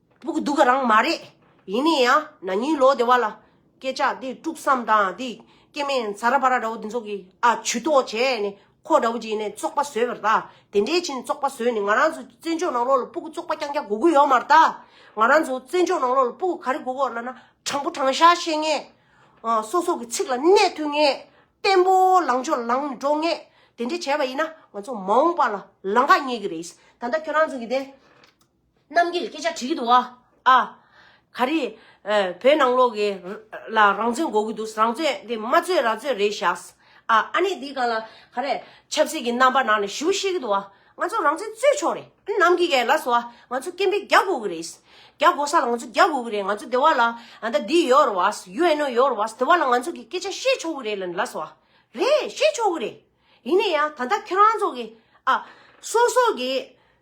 སྤུ་གུ་སྡུག་རང་མ་རེད། ཡིན་ནའི་ཡང་ན་ཉིན་ལོག་དེ་བ་ལ། སྐད་ཆ་དེ་དཀྲུགས་བསམ་དང་དེ། སྐྱེ་དམན་ཚ་ར་བ་ར་འདྲ་བོ་དེ་ཚོ་གི། ཨ་ཇུ་ཏོག་བྱས་ནས་ཁོ་འདྲ་བོ་གྱིས་ནས་བཙོག་པ་བཟོས་པར་གདའ། དེ་འདྲའི་ཕྱིན་བཙོག་པ་བཟོས་ནས་ང་རང་ཚོ་བཙན་བྱོལ་ནང་ལོག་ལ་སྤུ་གུ་བཙོག་པ་རྐྱང་རྐྱང་གོ་གི་ཡོག་མར་གདའ། ང་རང་ཚོ་བཙན་བྱོལ་ནང་ལོག་ལ་སྤུ་གུ་ག་རེ་གོ་གོ་ལ་ན། དྲང་པོ་དྲང་བཞག་བཤད་ངེས། སོ་སོ་གི་ཚིག་ལ་གནས་ཐུ་ངེས། བརྟན་པོ་ལངས་ཕྱོགས་ལངས་ནས་འགྲོ་ངེས། དེ་འདྲས་བྱས་པ་ཡིན་ན་ང་ཚོ་མ་འོངས་པ་ལ་ལང་ཀ་རྙེད་གི་རེད། ད་ལྟ་ཁྱོད་རང་ཚོ་གི་དེ། རྣམ་རྒྱལ་སྐད་ཆ་དྲི་གི་འདུག་ཨ། ཨ། ག་རེ། བོད་ནང་ལོག་གི། ལ་རང་བཙོན་འགོག་གི་འདུག་རང་བཙོན་དེ་མ་བཙོན་ར་བཙོན་རེད་བཞག། ཨ། ཨ་ནི་འདི་ག་ལ། ག་རེ། ཆབ་སྲིད་ཀྱི་རྣམ་པ་ནང་ནས་ཞུ་བཤད་གི་འདུག་ཨ། ང་ཚོ་རང་བཙན་རྩོད་ཆོག་རེད། ཨ་ནི་ནམ་གི་ག་ལ་སོ་ཨ། ང་ཚོ་སྐད་འཕེལ་རྒྱག་དགོས་གི་རེད། རྒྱག་དགོས་ས་ལ་ང་ཚོ་རྒྱག་དགོས་གི་རེད་ང་ཚོ་དེ་བ་ལ། ཨ་ད་འདི་ཡོད་རེད་བ། UNO ཡོད་རེད་བ། དེ་བ་ལ་ང་ཚོ་གི་སྐད་ཆ་བཤད་ཆོག་གི་རེད་ལ་ནི་ལ་སོ་ཨ། རེད། བཤད་ཆོག་གི་རེད། ཡིན་ནས་ཡང་ད་ལྟ་ཁྱོད་རང་ཚོ་གི། ཨ། སོ་སོ་གི།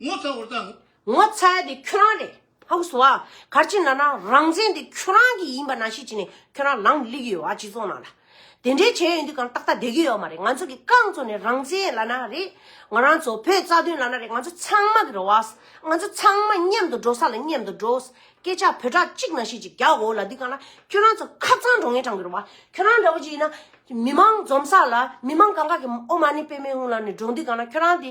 ངོ་ཚ་བར་དང། ངོ་ཚ་བ་དེ་ཁྱོད་རང་རེད། ཧ་གོ་སོང་ཨ། གར་ཅི་ན་ན་རང་བཙན་དེ་ཁྱོད་རང་གི་ཡིན་པ་ན་ཤེས་ཅི་ནས་ཁྱོད་རང་ལངས་སླེ་གི་ཡོད་ཨ་སྤྱི་ཚོགས་ནང་ལ། དེ་འདྲའི་བྱས་ཡོད་འདི་གང་ཏག་ཏག་བསྡད་གི་ཡོད་མ་རེད་ང་ཚོ་གི་རྐང་ཚོ་ནས་རང་བཙན་ལ་ན་རེད། ང་རང་ཚོ་བོད་རྩ་དོན་ལ་ན་རེད་ང་ཚོ་ཚང་མ་གི་རེད་བ། ང་ཚོ་ཚང་མ་མཉམ་དུ་འགྲོ་ས་ལ་མཉམ་དུ་འགྲོ། སྐད་ཆ་བོད་ཕྲག་གཅིག་ན་ཤེས་ཅི་རྒྱ་གོ་ལ་འདི་གང་ན་ཁྱོད་རང་ཚོ་ཁ་ཚང་འགྲོ་ངེས་གྲང་གི་རེད་བ། ཁྱོད་རང་འདྲ་བོ་ཅི་ཡིན་ན། མི་མང་འཛོམས་ས་ལ་མི་མང་གང་ག་གི་ཨོ་མ་ནི་དཔེ་མེད་ཧུང་ལ་ནི་འགྲོ་འདི་གང་ན་ཁྱོད་རང་དེ་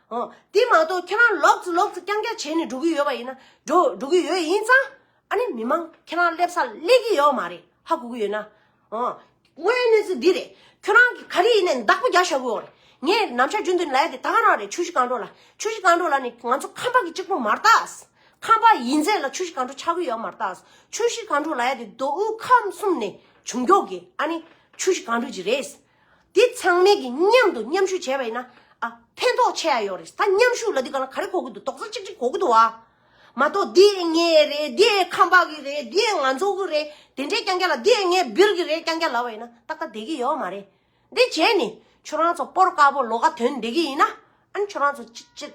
དེ་མ་གཏོགས་ཁྱེད་རང་ལོག་ཙི་ལོག་ཙི་རྐྱང་རྐྱང་བྱས་ནས་འགྲོ་གི་ཡོད་པ་ཡིན་ན་འགྲོ་འགྲོ་གི་ཡོད་ཡིན་ཙང་ཨ་ནི་མི་མང་ཁྱེད་རང་སླེབས་སར་སླེབས་ཀྱི་ཡོད་མ་རེད་ཧ་གོ་གི་ཡོད་ན། དངོས་ཡོད་གནས་ཚུལ་འདི་རེད་ཁྱོད་རང་གིས་ག་རེ་ཡིན་ནས་བདག་པོ་རྒྱག་བྱ་གི་ཡོད་རེད། ངས་ནམ་ཞར་རྒྱུན་དུ་ལས་དེ་ད་ག་རང་རེད་ཆུ་བཞི་རྐང་འགྲོ་ལ་ཆུ་བཞི་རྐང་འགྲོ་ལ་ནི་ང་ཚོ་ཁམས་པ་གི་གཅིག་པུ་མ་རྟག་ཁམས་པ་ཡིན་ཚད་ལ་ཆུ་བཞི་རྐང་འགྲོ་ཆག་གི་ཡོད་མ་རྟག་ཆུ་བཞི་རྐང་འགྲོ་ལ་ཡ་དེ་མདོ་དབུས་ཁམས་གསུམ་ནས་བྱུང་མགྱོགས་ཀྱི་ཨ་ནི་ཆུ་བཞི་རྐང་འགྲོ་གྱི་རེད། དེ་ཚང་མས་ཀྱི་མཉམ་དུ་མཉམ་ཞུགས་བྱས་པ་ཡིན་ན། ཨ། ཕན་ཐོགས་ཆེ་ཡ་ཡོད་རེད། ད་མཉམ་ཞུགས་ལ་དེ་ག་ལ་ག་རེ་གོ་གི་འདུག་དོག་རྩ་ཅིག་ཅིག་གོ་གི་འདུག་ཨ། མ་གཏོགས་དེ་ངའི་རེད་དེ་ཁམས་པ་གི་རེད་དེ་ང་ཚོ་གི་རེད་དེ་འདྲས་རྐྱང་རྐྱང་ལ་དེ་ངའི་སྦིར་གི་རེད་རྐྱང་རྐྱང་ལབ་པ་ཡིན་ན་ཏག་ཏག་བསྡད་ཀྱི་ཡོད་མ་རེད། དེ་བྱས་ནས་ཁྱོད་རང་ཚོ་སྤོར་དཀར་པོ་ལོ་ག་དོན་བསྡད་ཀྱི་ཡིན་ན། ཨན་ཁྱོད་རང་ཚོ་ཅི་ཅི།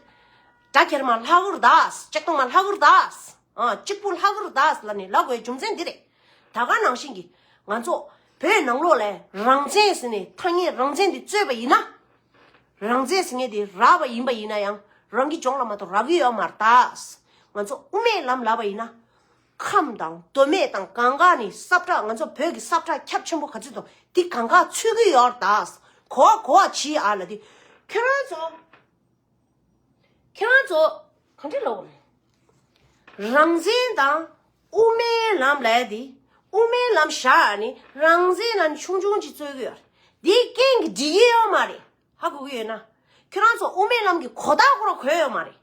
སྦྲ་ཁྱེར་མ་ལྷ་ཧུར་དཱས་ལྕགས་སྟོང་མ་ལྷ་ཧུར་དཱས། ཨ་གཅིག་པུ་ལྷ་ཧུར་དཱས་ལ་ནས་ལབ་དགོས་རྒྱུ་མཚན་འདི་རེད། ད་ག་ནང་བཞིན་གྱི་ང་ཚོ་བོད་ནང་ལོགས་ལས་རང་བཙན་ཟེར་ནས་ཐ་སྙད་རང་བཙན་དེ་རྩོད་པ་ཡིན་ན། རང་བཙན་ཟེར་མཁན་དེ་ར་བ་ཡིན་པ་ཡིན་ན་ཡང་རང་གི་ལྗོངས་ལ་མ་གཏོགས་ར་གི་ཡོད་མ་རྟགས་ང་ཚོ་དབུ་མའི་ལམ་ལབ་པ་ཡིན་ན། ཁམས་དང་མདོ་སྨད་དང་གང་ག་ནས་སྲབ་ཁྲག་ང་ཚོ་བོད་ཀྱི་སྲབ་ཁྲག་ཁྱབ་ཆེན་པོ་ག་ཚོད་དང་དེ་གང་ག་ཚུད་གི་ཡོད་ར་རྟགས་གོ་བ་གོ་བ་བྱེད་ཨ་ལ་དེ་ཁྱོད་རང་ཚོ། ཁྱེད་རང་ཚོ་གང་འདྲས་ལོག་རེད། རང་བཙན་དང་དབུ་མའི་ལམ་ལས་དེ་དབུ་མའི་ལམ་བཞག་ནས་རང་བཙན་ལམ་ཆུང་ཆུང་ཅིག་རྩོད་གི་ཡོད་རེད། དེ་སྐད་འགི་འགྲིག་གི་ཡོད་མ་རེད། ཧ་གོ་གི་ཡོད་ན། ཁྱེད་རང་ཚོ་དབུ་མའི་ལམ་གི་གོ་རྟགས་སྐོར་ལ་གོ་ཡོད་མ་རེད།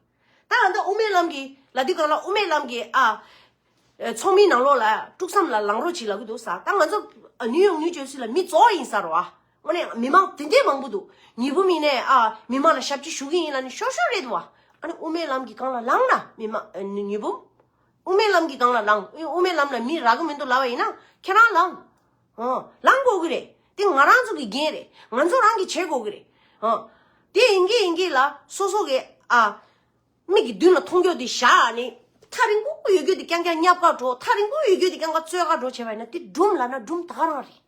ད་ང་འདི་དབུ་མའི་ལམ་གི་ལ་དེ་གང་ལ་དབུ་མའི་ལམ་གི་ཨ། ཚོགས་མིའི་ནང་ལོགས་ལ་དཀྲུགས་བསམ་ལ་ལངས་རོགས་ཅིག་ལ་གི་འདུག་ས་ད་ང་ཚོ་ནིའུ་ཡོག་ནིའུ་ཇོལ་སི་ལ་མི་ཙོག་ཡིན་ས་རོ་ཨ། དངོས་ནས་མི་མང་དེ་འདྲའི་མང་པོ་འདུག་ཉི་བུ་མིན་ནས་ཨ་མི་མང་ལ་ཞབས་ཀྱིས་ཞུ་གི་ཡིན་ལ་ནི་ཤོར་ཤོར་རེད་བ། ཨ་ནི་དབུ་མའི་ལམ་གྱི་སྒང་ལ་ལངས་ན་མི་མང་ཉི་བུ། དབུ་མའི་ལམ་གྱི་སྒང་ལ་ལངས་དབུ་མའི་ལམ་ལ་མི་རག་གི་མི་འདུག་ལབ་པ་ཡིན་ན་ཁྱེད་རང་ལངས། ཧོ། ལངས་དགོས་ཀྱི་རེད། དེ་ང་རང་ཚོ་གི་འགན་རེད། ང་ཚོ་རང་གིས་བྱེད་དགོས་ཀྱི་རེད། ཧོ། དེ་ཡིན་གྱི་ཡིན་གྱི་ལ་སོ་སོ་གི་ཨ། མིག་གི་མདུན་ལ་མཐོང་རྒྱུ་དེ་བཞག་ནི། ཐག་རིང་པོ་ཡོད་རྒྱུ་དེ་རྐྱང་རྐྱང་བསྙབ་ཀ་འགྲོ། ཐག་རིང་པོ་ཡོད་རྒྱུ་དེ་རྐྱང་རྐྱང་རྩོད་ཀ་འགྲོ་བྱས་པ་ཡིན་ན་དེ་སྦྲུམ་ལ་ན་སྦྲུམ་ད་རང་རེད།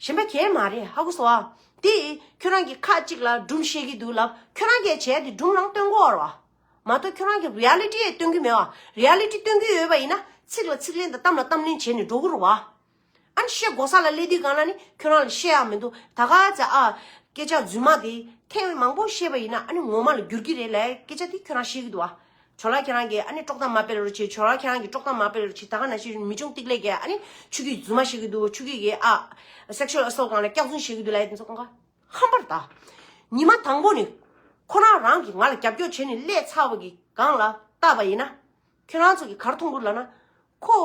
གཞན་པ་གས་མ་རེད་ཧ་གོ་སོ་ཨ། དེ་ཁྱོད་རང་གི་ཁ་གཅིག་ལ་སྦྲུམ་བཤད་གི་འདུག་ལབ་ཁྱོད་རང་གས་བྱས་དེ་སྦྲུམ་ནང་སྟོན་གོ་ཨོར་བ། མ་གཏོགས་ཁྱོད་རང་གི Reality ཡེ་སྟོན་གི་མེད་བ། Reality སྟོན་གི་ཡོད་པ་ཡིན་ན་ཚིག་ལ་ཚིག་ལན་དང་གཏམ་ལ་གཏམ་ལན་བྱས་ནས་འགྲོ་གོ་རོག་བ། ཨ་ནི་བཤད་གོ་ས་ལ་ལས་དེ་ག་ན་ནི་ཁྱོད་རང་ལ་བཤད་ཡག་མི་འདུག་ད་ག་ཚད་ཨ། སྐད་ཆ་རྫུན་མ་དེ་ཐེངས་མང་པོ་བཤད་པ་ཡིན་ན་ཨ་ནི་ངོ་མ་ལ་འགྱུར་གི་རེད་ལས་སྐད་ཆ་དེ་ཁྱོད་རང་བཤད་གི་འདུག་བ། ཇོ་ལགས་ཁྱེད་རང་གིས་ཨ་ནི་དཀྲོག་གཏམ་མ་སྤེལ་རོགས་བྱས་ཇོ་ལགས་ཁྱེད་རང་གིས་དཀྲོག་གཏམ་མ་སྤེལ་རོགས་བྱས་ད་ག་ན་བྱས་མི་ཆུང་སྟིག་ལེགས་ཀྱིས་ཨ་ནི་ཆུ་གིས་རྫུན་མ་བཤད་གི་འདུག་ཆུ་གིས་གིས་ཨ sexual assault གང་ལ་སྐྱག་རྫུན་བཤད་གི་འདུག་ལ་ཡ་དེ་ཚོ་གང་ག་ཧམ་པར་གདའ། ཉི་མ་དང་པོ་ནི་ཁོ་རང་རང་གིས་ང་ལ་རྒྱབ་སྐྱོར་བྱས་ནས་ཀླད་ཚ་བ་གིས་གང་ལ་བལྟ་བ་ཡིན་ན་ཁྱོད་རང་ཚོ་གིས་གར་མཐོང་གུར་ལ་ན་ཁོ།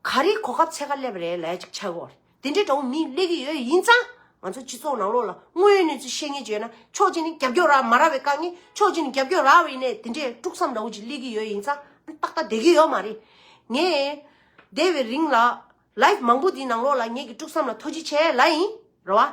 ག་རེའི་གོ་སྐབས་ཚད་ཁ་སླེབས་རེད་ལས་ཅིག་བྱ་དགོས། དེ་འདྲའི་དྲ་བོ་མིས་གླེགས་ཀྱི་ཡོད་ཡིན་ཙང། ང་ཚོ་སྤྱི་ཚོགས་ནང་ལོགས་ལ་དངོས་ཡོད་གནས་ཚུལ་ཤེས་ངེས་བརྗོད་ན་ཆོག་ཅི་ནས་རྒྱབ་སྐྱོར་རག་མ་རག་བའི་དཀའ་ངལ་ཆོག་ཅི་ནས་རྒྱབ་སྐྱོར་རག་བའི་ནས་དེ་འདྲའི་དཀྲུག་མཚམས་འདྲ་བོ་ཅིག་གླེགས་ཀྱི་ཡོད་ཡིན་ཙང་ཨང་ཏག་ཏག་བསྡད་ཀྱི་ཡོད་མ་རེད། ངས། བསྡད་པའི་རིང་ལ། Live མང་པོ་འདིའི་ནང་ལོགས་ལ་ངེད་ཀྱི་དཀྲུག་མཚམས་ལ་ཐོ་ཅི་བྱས་ལ་ཡིན། རེད་བ།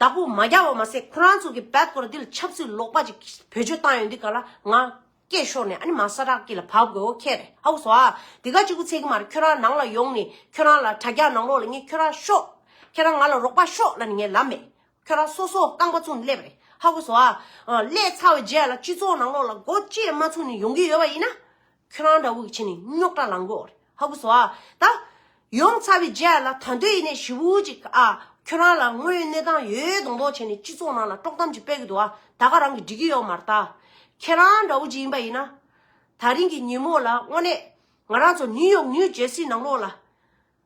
བདག་པོ་མ་རྒྱག་བ་མ་ཟད་ཁོ་རང་ཚོ་གི་བལ་སྐོར་འདི་ལ་ཆབ་སྲིད་ལོག་པ་ཅིག་བེད་སྤྱོད་བཏང་ཡོད་འདུག་ག་ལ་ང་སྐད་ཤོར་ནས་ཨ་ནི་མ་ས་རག་གི་ལ་བབས་དགོས་ཨོ་ཁེ་རེད་ཨ་བུ་སོ་ཨ་དེ་ག་ཅིག་པུ་ཚད་གི་མ་རེད་ཁྱོད་རང་ནང་ལ་ཡོང་ནས་ཁྱོད་རང་ལ་དྲ་རྒྱ་ནང་ལོག་ལ་ངས་ཁྱོད་རང་ཤོག་ཁྱེད་རང་ང་ལ་རོགས་པ་ཤོག་ལ་ནི་ངས་ལབ་མེད་ཁྱོད་རང་སོ་སོ་རྐང་པ་བཙུགས་ནས་སླེབས་རེད་ཧ་བུ་སོ་ཨ། སླེས་ཚར་བའི་རྗེས་ལ་སྤྱི་ཚོགས་ནང་ལོག་ལ་སྒོ་བཅད་མ་ཚུགས་ནས་ཡོང་གི་ཡོད་པ་ཡིན་ན། ཁྱོད་རང་འདྲ་བོ་ཀྱི་ཆེ་ནི་རྙོག་དྲ་ལང་གོ། ཧ་གོ་སོ་ཨ། ད། ཡོང་ཚར་བའི་རྗེས་ལ་ད་འདོད་ཡིན་ནས་བཞི་བོ་ཅིག་ཨ། ཁྱོད་རང་ལ་དངོས་ཡོད་གནས་སྟངས་ཡོད་ཡོད་མདོག་མདོག་བྱས་ནས་སྤྱི་ཚོགས་ནང་ལ་དཀྲོག་གཏམ་ཅིག་སྤེལ་གི་འདུག་ཨ། ད་ག་རང་གིས་འགྲིག་གི་ཡོད་མ་རྟ། ཁྱེད་རང་འདྲ་བོ་ཅིག་ཡིན་པ་ཡིན་ན། ད་རིང་གི་ཉིན་མོ་ལ་དངོས་གནས། ང་རང་ཚོ་ནིའུ་ཡོག་ནིའུ་ཇེར་སི་ནང་ལོགས་ལ།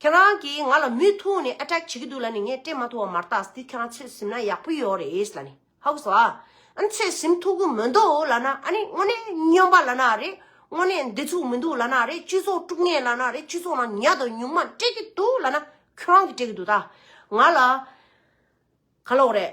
ཁྱེད་རང་གིས་ང་ལ་མུས་ཐུང་ནས Attack བྱེད་ཀྱི་འདུག་ལ་ནི་ངས་སྤྲད་མ་ཐུབ་བ་མར་བཏགས་ཟིན་དུས་ཁྱེད་རང་ཚོད་ཟིན་ན་ཡག་པོ་ཡོད་རེད་ལ་ནི་ཧཱུྃ་སྭཱ། ཨ་ནི་ཚོད་ཟིན་ཐུབ་ཀྱི་མི་འདུག་ལ་ནི་ཨ་ནི་དངོས་གནས་སྨྱོན་པ་ལ་ནི་ཨ་རེད་དངོས་གནས་འདི་ཚུགས་མི་འདུག་ལ་ནི་ཨ་རེད་སྤྱི་ཚོགས་དཀྲུགས་ངེས་ལ་ནི་ཨ་རེད་སྤྱི་ཚོགས་ནང་ཉག་དང་ཉུང་མ་སྤྲད་ཀྱི་འདུག་ལ་ནི་ཁྱེད་རང་གིས་སྤྲད་ཀྱི་འདུག་ད་ང་ལ་ག་ལོག་རེད།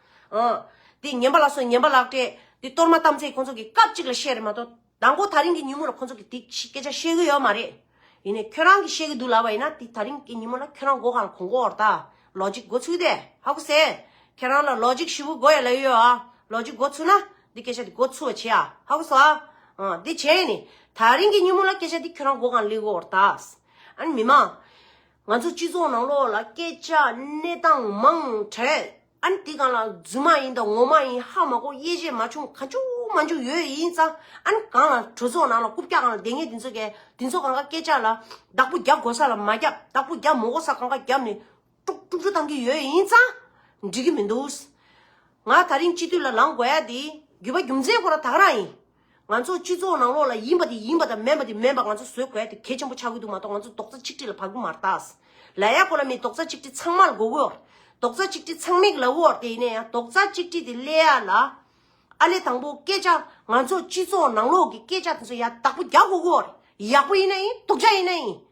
ཨོ། དེ་ཉན་པ་ལ་སོགས་ཉན་པ་ལགས། དེ་གཏོར་མ་བཏང་ཚེ་ཁོང་ཚོ་གིས་སྐབས་གཅིག་ལ་བཤད་རེད་མ་གཏོགས། ད་འགོ་ད་རིང་གི་ཉིན་མོ་ལ་ཁོང་ཚོ་གིས་དེ་སྐད་ཆ་བཤད་གི་ཡོད་མ་རེད། ཡིན་ནས་ཁྱོད་རང་གིས་བཤད་གི་འདུག་ལབ་པ་ཡིན་ན་དེ་ད་རིང་གི་ཉིན་མོ་ལ་ཁྱོད་རང་འགོ་གང་ལ་གོང་འགོ་འོར་ད། ལོ་གཅིག་འགོ་ཚུགས་ཏེ་ཧ་གོ་ཟེར། ཁྱོད་རང་ལ་ལོ་གཅིག་བཞི་བོ་འགོ་ཡ་ལ་ཡོད་ཨ། ལོ་གཅིག་འགོ་ཚུགས་ན་དེ་སྐད་ཆ་དེ་འགོ་ཚུགས་བ་བྱེད་ཨ་ཧ་གོ་སོང་ཨ། ཨོ། དེ་བྱས་ནས་ད་རིང་གི་ཉིན་མོ་ལ་སྐད་ཆ་དེ་ཁྱོད་རང་འགོ་གང་ལ་ལེགས་གོ་འོར་ད། ཨ་ནི་མི་མང། ང་ཚོ་སྤྱི་ཚོགས་ནང་ལོགས་ལ་སྐད་ཆ་གནས་སྟངས་མང་བྲལ་ཨ་ནི་དེ་གང་ལ་རྫུན་མ་ཡིན་དང་ངོ་མ་ཡིན་ཧ་མ་གོ་དབྱེ་འབྱེད་མ་བྱུང་ག་འཇུག་མ་འཇུག་ཡོད་ཡིན་ཙང་ཨ་ནི་གང་ལ་གྲོས་ཚོགས་ནང་ལ་རྐུབ་བཀྱག་གང་ལ་འདེད་ངེས་དེ་ཚོ་གལ་དེ་ཚོ་གང་ག་སྐད་ཆ་ལ་བདག་པོ་རྒྱབ་དགོས་ས་ལ་མ་རྒྱབ་བདག་པོ་རྒྱབ་མོ་གོ་ས་གང་ག་རྒྱབ་ནས་དཀྲུག་དཀྲུག་རྒྱུ་གཏང་གི་ཡོད་ཡིན་ཙང་འགྲིག་གི་མི་འདུག་ང་ད་རིང་སྤྱི་འཐུས་ལ་ལངས་དགོས་ཡ་དེ་རྒྱུད་པ་རྒྱུ་མཚན་ཁོ་ར་དག་རང་ཡིན། ང་ཚོ་སྤྱི་ཚོགས་ནང་ལོགས་ལ་ཡིན་པ་དེ་ཡིན་པ་དང་མེན་པ་དེ་མེན་པ་ང་ཚོ་བཟོད་དགོས་དེ་གལ་ཆེན་པོ་ཆགས་ཀྱི་འདུག་མ་གཏོགས་ང་ཚོ་རྡོག་རྩ་ཆིག་སྒྲིལ་ལ་བར་སྐུ་མ་རྟགས། ལ་ཡ་གོ་ལ་མི་རྡོག་རྩ་ཆིག་སྒྲིལ་ཚང་མར་མགོ་བོའོ། རྡོག་རྩ་ཆིག་སྒྲིལ་ཚང་མིག་ལ་བོའོ་དེ་ཡིན་ན་ཡང་རྡོག་རྩ་ཆིག་སྒྲིལ་དེ་སླེ་ཡ་ལ། ཨ་ལེ་དང་པོ་སྐད་ཆ་ང་ཚོ་སྤྱི་ཚོགས་ནང་ལོགས་ཀྱི་སྐད་ཆ་དེ་ཚོ་ཡ་དག་པོ་རྒྱག་དགོས་གོ། ཡག་པོ་ཡིན་ན་ཡིན་དོག་ཆ་ཡིན་ན་ཡིན།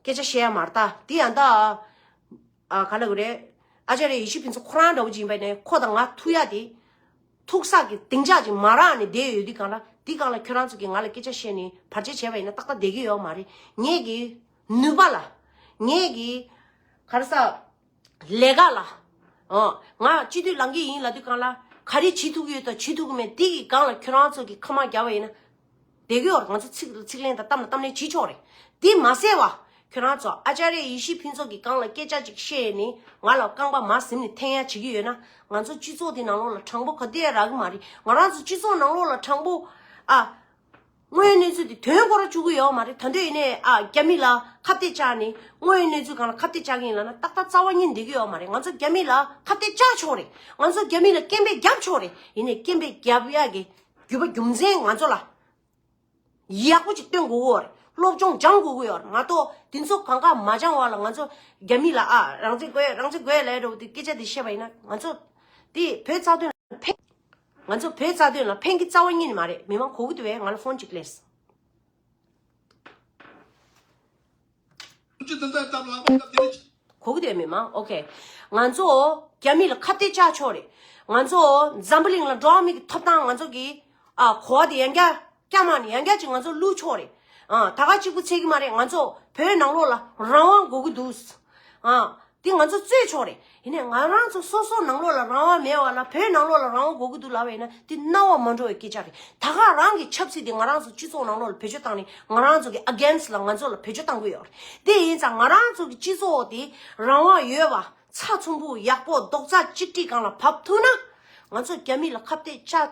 སྐད་ཆ་བཤད་ཡ་མ་རྟ་འདི་ཡང་དག། ག་ལ་དགོས་རེད། ཨ་ཅག་རེད་ཡེ་ཤུ་ཕུན་ཚོགས་ཁོ་རང་འདྲ་བོ་ཅིག་ཡིན་པ་ནས་ཁོ་དང་ང་ཐུག་ཡ་དེ། ཐུག་ས་གི་གདེང་འཇགས་ཅིག་མ་རག་ནས་བསྡད་ཡོད་དུས་གང་ལ་དེ་གང་ལ་ཁྱོད་རང་ཚོ་གིས་ང་ལ་སྐད་ཆ་བཤད་ནས་བར་ཆད་བྱས་པ་ཡིན་ན་ཏག་ཏག་བསྡད་ཀྱི་ཡོད་མ་རེད་ངེད་ཀྱིས་ནུས་པ་ལ། ངེད་ཀྱིས། ག་རེ་ས། ལས་ཀ་ལ། ང་སྤྱི་འཐུས་ལང་གི་ཡིན་ལ་དུས་གང་ལ་ག་རེ་བྱེད་ཐུབ་ཀྱི་ཡོད་དང་བྱེད་ཐུབ་ཀྱི་མེད་དེ་གི་སྒང་ལ་ཁྱོད་རང་ཚོ་གི་ཁ་མ་རྒྱ་བ་ཡིན་ན། དེ་གི་བར་ང་ཚོ་ཚིག་ཚིག་ལན་དང་གཏམ་ལ་གཏམ་ལན་བྱེད་ཆོག་རེད། དེ་མ་ཟད་བ། ཁྱོད་རང་ཚོ་ཨ་ཅཱ་རེ་ཡེ་ཤེས་ཕུན་ཚོགས་གི་སྒང་ལ་སྐད་ཆ་ཅིག་བཤད་ནས་ང་ལ་རྐང་པ་མ་གཟིམ་ནས་ཐེངས་ཡ་བྱེད་ཀྱི་ཡོད་ན། ང་ཚོ་སྤྱི་ཚོགས་དེ་ནང་ལོགས་ལ་དྲང་པོ་ག་དེ་ཡ་རག་གི་མ་རེད། ང་རང་ཚོ་སྤྱི་ཚོགས་ནང་ལོགས་ལ་དྲང་པོ་ཨ། དངོས་ཡོད་གནས་ཚུལ་དེ་དོན་གོ་ར་བཅུག་གི་ཡོད་མ་རེད་ད་འདོད་ཡིན་ནས་རྒྱ་མི་ལ་ཁ་བཏད་བཅག་ནས་དངོས་ཡོད་གནས་ཚུལ་གང་ལ་ཁ་བཏད་བཅག་གི་ཡིན་ལ་ན་ཏག་ཏག་རྩ་བ་ཉིད་འདེད་གི་ཡོད་མ་རེད་ང་ཚོ་རྒྱ་མི་ལ་ཁ་བཏད་བཅག་ཆོག་རེད་ང་ཚོ་རྒྱ་མི་ལ་སྐད་འབོད་རྒྱབ་ཆོག་རེད་ཡིན་ནས་སྐད་འབོད་རྒྱབ་ཡག་གི་རྒྱུ་བ་རྒྱུ་མཚན་ང་ཚོ་ལ་ཡག་པོ་ཅིག་སྟོན་དགོས་གི་ཡོད་རེད་སློབ་སྦྱོང་སྦྱང་དགོས་གི་ཡོད་རེད་མ་གཏོགས་དེ་ཚོ་གང་ག་མ་སྦྱང་བ་ལ་ང་ཚོ་རྒྱ་མི་ལ་ཨ་རང་བཙན་དགོས་རང་བཙན་དགོས་ལས་འགྲོ་བ་དེ་སྐད་ཆ་དེ་བཤད་པ་ཡིན་ན་ང་ཚོ་དེ་བོད་རྩ་དོན་ལ་ཕན། ང་ཚོ་བོད་རྩ་དོན་ལ་ཕན་གི་རྩ་བ་གཉིས་ནི་མ་རེད་མི་མང་གོ་གི་འདུག་བས་ང་ལ་ཧོན་ཅིག་ཀླེས། གོ་གི་འདུག་བས་མི་མང་ཨོ་ཁེ། ང་ཚོ་རྒྱ་མི་ལ་ཁ་བཏད་བཅག་ཆོག་རེད། ང་ཚོ་འཛམ་བུ་གླིང་ལ་འགྲོ་བ་མི་གི་ཐོབ་ཐང་ང་ཚོ་གི་གོ་བ་དེ་ཡང་བསྐྱར་སྐྱག་མ་ནི་ཡང་སྐྱག་ཅིག་ང་ཚོ་བསླུས་ཆོག་རེད། ད་དགའ་གཅིག་པུ་འཚལ་གི་མ་རེད་ང་ཚོ་བོད་ནང་ལོག་ལ་རང་དབང་དགོས་ཀྱི་འདུག། དེ་ང་ཚོ་རྩོད་ཆོག་རེད། ཡིན་ནས་ང་རང་ཚོ་སོ་སོ་ནང་ལོག་ལ་རང་དབང་མེད་བ་ལ་བོད་ནང་ལོག་ལ་རང་དབང་དགོས་ཀྱི་འདུག་ལབ་པ་ཡིན་ན་དེ་རྣ་བ་མ་འགྲོ་བའི་སྐད་ཆ་རེད། ད་དགའ་རང་གི་ཆབ་སྲིད་དེ་ང་རང་ཚོ་སྤྱི་ཚོགས་ནང་ལོག་ལ་བེད་སྤྱོད་བཏང་ནས་ང་རང་ཚོ་གི against ལ་ང་ཚོ་ལ་བེད་སྤྱོད་བཏང་དགོས་ཡོད་རེད། དེ་ཡིན་ཙང་ང་རང་ཚོ་གི་སྤྱི་ཚོགས་དེ་རང་དབང་ཡོད་པ་ཚ་ཚོམ་བུ་ཡག་པོ་རྡོག་རྩ་གཅིག་སྒྲིལ་གང་ལ་བབས་ཐུབ་ན། ང་ཚོ་རྒྱ་མི་ལ་ཁ་བཏད་ཅག་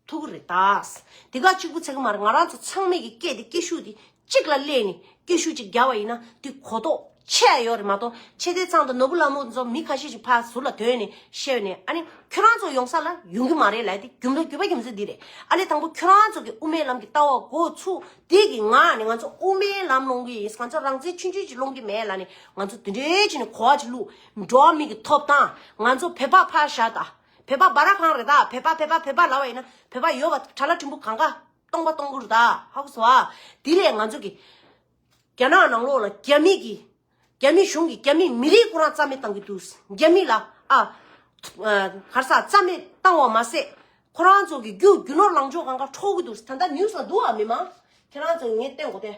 ཐུགས་ཀྱི་རེ་ཐག། དེ་ག་གཅིག་པུ་ཚད་ཀྱི་མ་རེད་ང་རང་ཚོ་ཚང་མས་ཀྱི་སྐད་དེ་སྐད་ཤུགས་དེ་གཅིག་ལ་གླས་ནས་སྐད་ཤུགས་གཅིག་རྒྱག་པ་ཡིན་ན་དེ་གོ་རྟོགས་ཆེ་ཡ་ཡོད་རེད་མ་གཏོགས་ཆེ་ལྟའི་ཚང་དང་ནོར་བུ་ལ་མོ་ཚོ་མི་ཁ་ཤས་ཤིག་ཕར་ཟུར་ལ་དོན་ནས་བཤད་ནས་ཨ་ནི་ཁྱོད་རང་ཚོ་ཡོང་ས་ལ་ཡོང་གི་མ་རེད་ལད་དེ་རྒྱུ་མཚན་རྒྱུས་པ་རྒྱུ་མཚན་དེ་རེད་ཨ་ལས་དང་པོ་ཁྱོད་རང་ཚོ་གི་དབུ་མའི་ལམ་གྱི་ལྟ་བ་འགོ་ཚུགས་དེ་གི་ང་ནི་ང་ཚོ་དབུ་མའི་ལམ་སློང་གི་ཡིན་ང་ཚོ་རང་བཙན་ཆུང་ཆུང་ཅིག་སློང་གི་མེད་ལ་ནི་ང་ཚོ་དེ་འདྲའི་ཆེ་ནས་གོ་བ་ཅིག་བླུགས་འགྲོ་བ་མིའི་གི་ཐོབ་ཐང་ང་ཚོ་བོད་པ་ཕར་བཞག་དང། བོད་པ་སྦ་ར་ཁང་རེད་ད་བོད་པ་བོད་པ་བོད་པ་ལ་བ་ཡིན་ན་བོད་པ་ཡོད་པ་གྲ་ལ་ཕྲུ་འབུ་གང་ག་སྟོང་པ་སྟོང་པོ་རུ་ད་ཧ་གོ་སོ་ཨ་དེ་ལས་ང་ཚོ་གི་རྒྱ་ནག་ནང་ལོག་ལ་རྒྱ་མི་གི་རྒྱ་མི་གཞུང་གི་རྒྱ་མི་མི་རིགས་སྐོ་རང་རྩ་མེད་བཏང་གི་འདུག་རྒྱ་མི་ལ་ཨ་གར་ས་རྩ་མེད་བཏང་བ་མ་ཟད་ཁོ་རང་ཚོ་གི་རྒྱུ་རྒྱུ་ནོར་ལང་ཕྱོགས་གང་ག་འཕྲོག་གི་འདུག་ད་ལྟ་ནིའུ་སང་འདུག་ཨ་མི་མང་ཁྱེད་རང་ཚོ་ངས་བསྟན་གོ་ཐལ།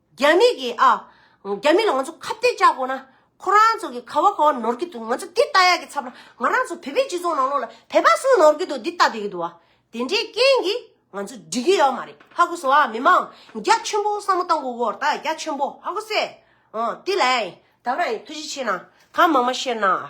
རྒྱ་མི་གིས་ཨ། རྒྱ་མི་ལ་ང་ཚོ་ཁ་བཏད་བཅག་དགོས་ན། ཁོ་རང་ཚོ་གིས་ཁ་བ་ཁ་བ་ནོར་གི་འདུག་ང་ཚོ་འདི་ལྟ་ཡག་གི་ཚབ་ན་ང་རང་ཚོ་བོད་པའི་སྤྱི་ཚོགས་ནང་ལོགས་ལ་བོད་པ་སུ་ནོར་གི་འདུག་འདི་ལྟ་བསྡད་ཀྱི་འདུག་བ། དེ་འདྲའི་རྐྱེན་གྱིས་ང་ཚོ་འགྲིག་གི་ཡོད་མ་རེད་ཧ་གོ་སོང་ཨ། མི་མང་རྒྱ་ཆེན་པོ་བསམ་བློ་བཏང་གོ་གོ་ད་རྒྱ་ཆེན་པོ་ཧ་གོ་སེ། ཨོ་དེ་ལའང་ཡིན་ད་རང་ཡིན་ཐུགས་རྗེ་ཆེ་གནང་གང་མང་མང་བཤད་གནང་ཨ།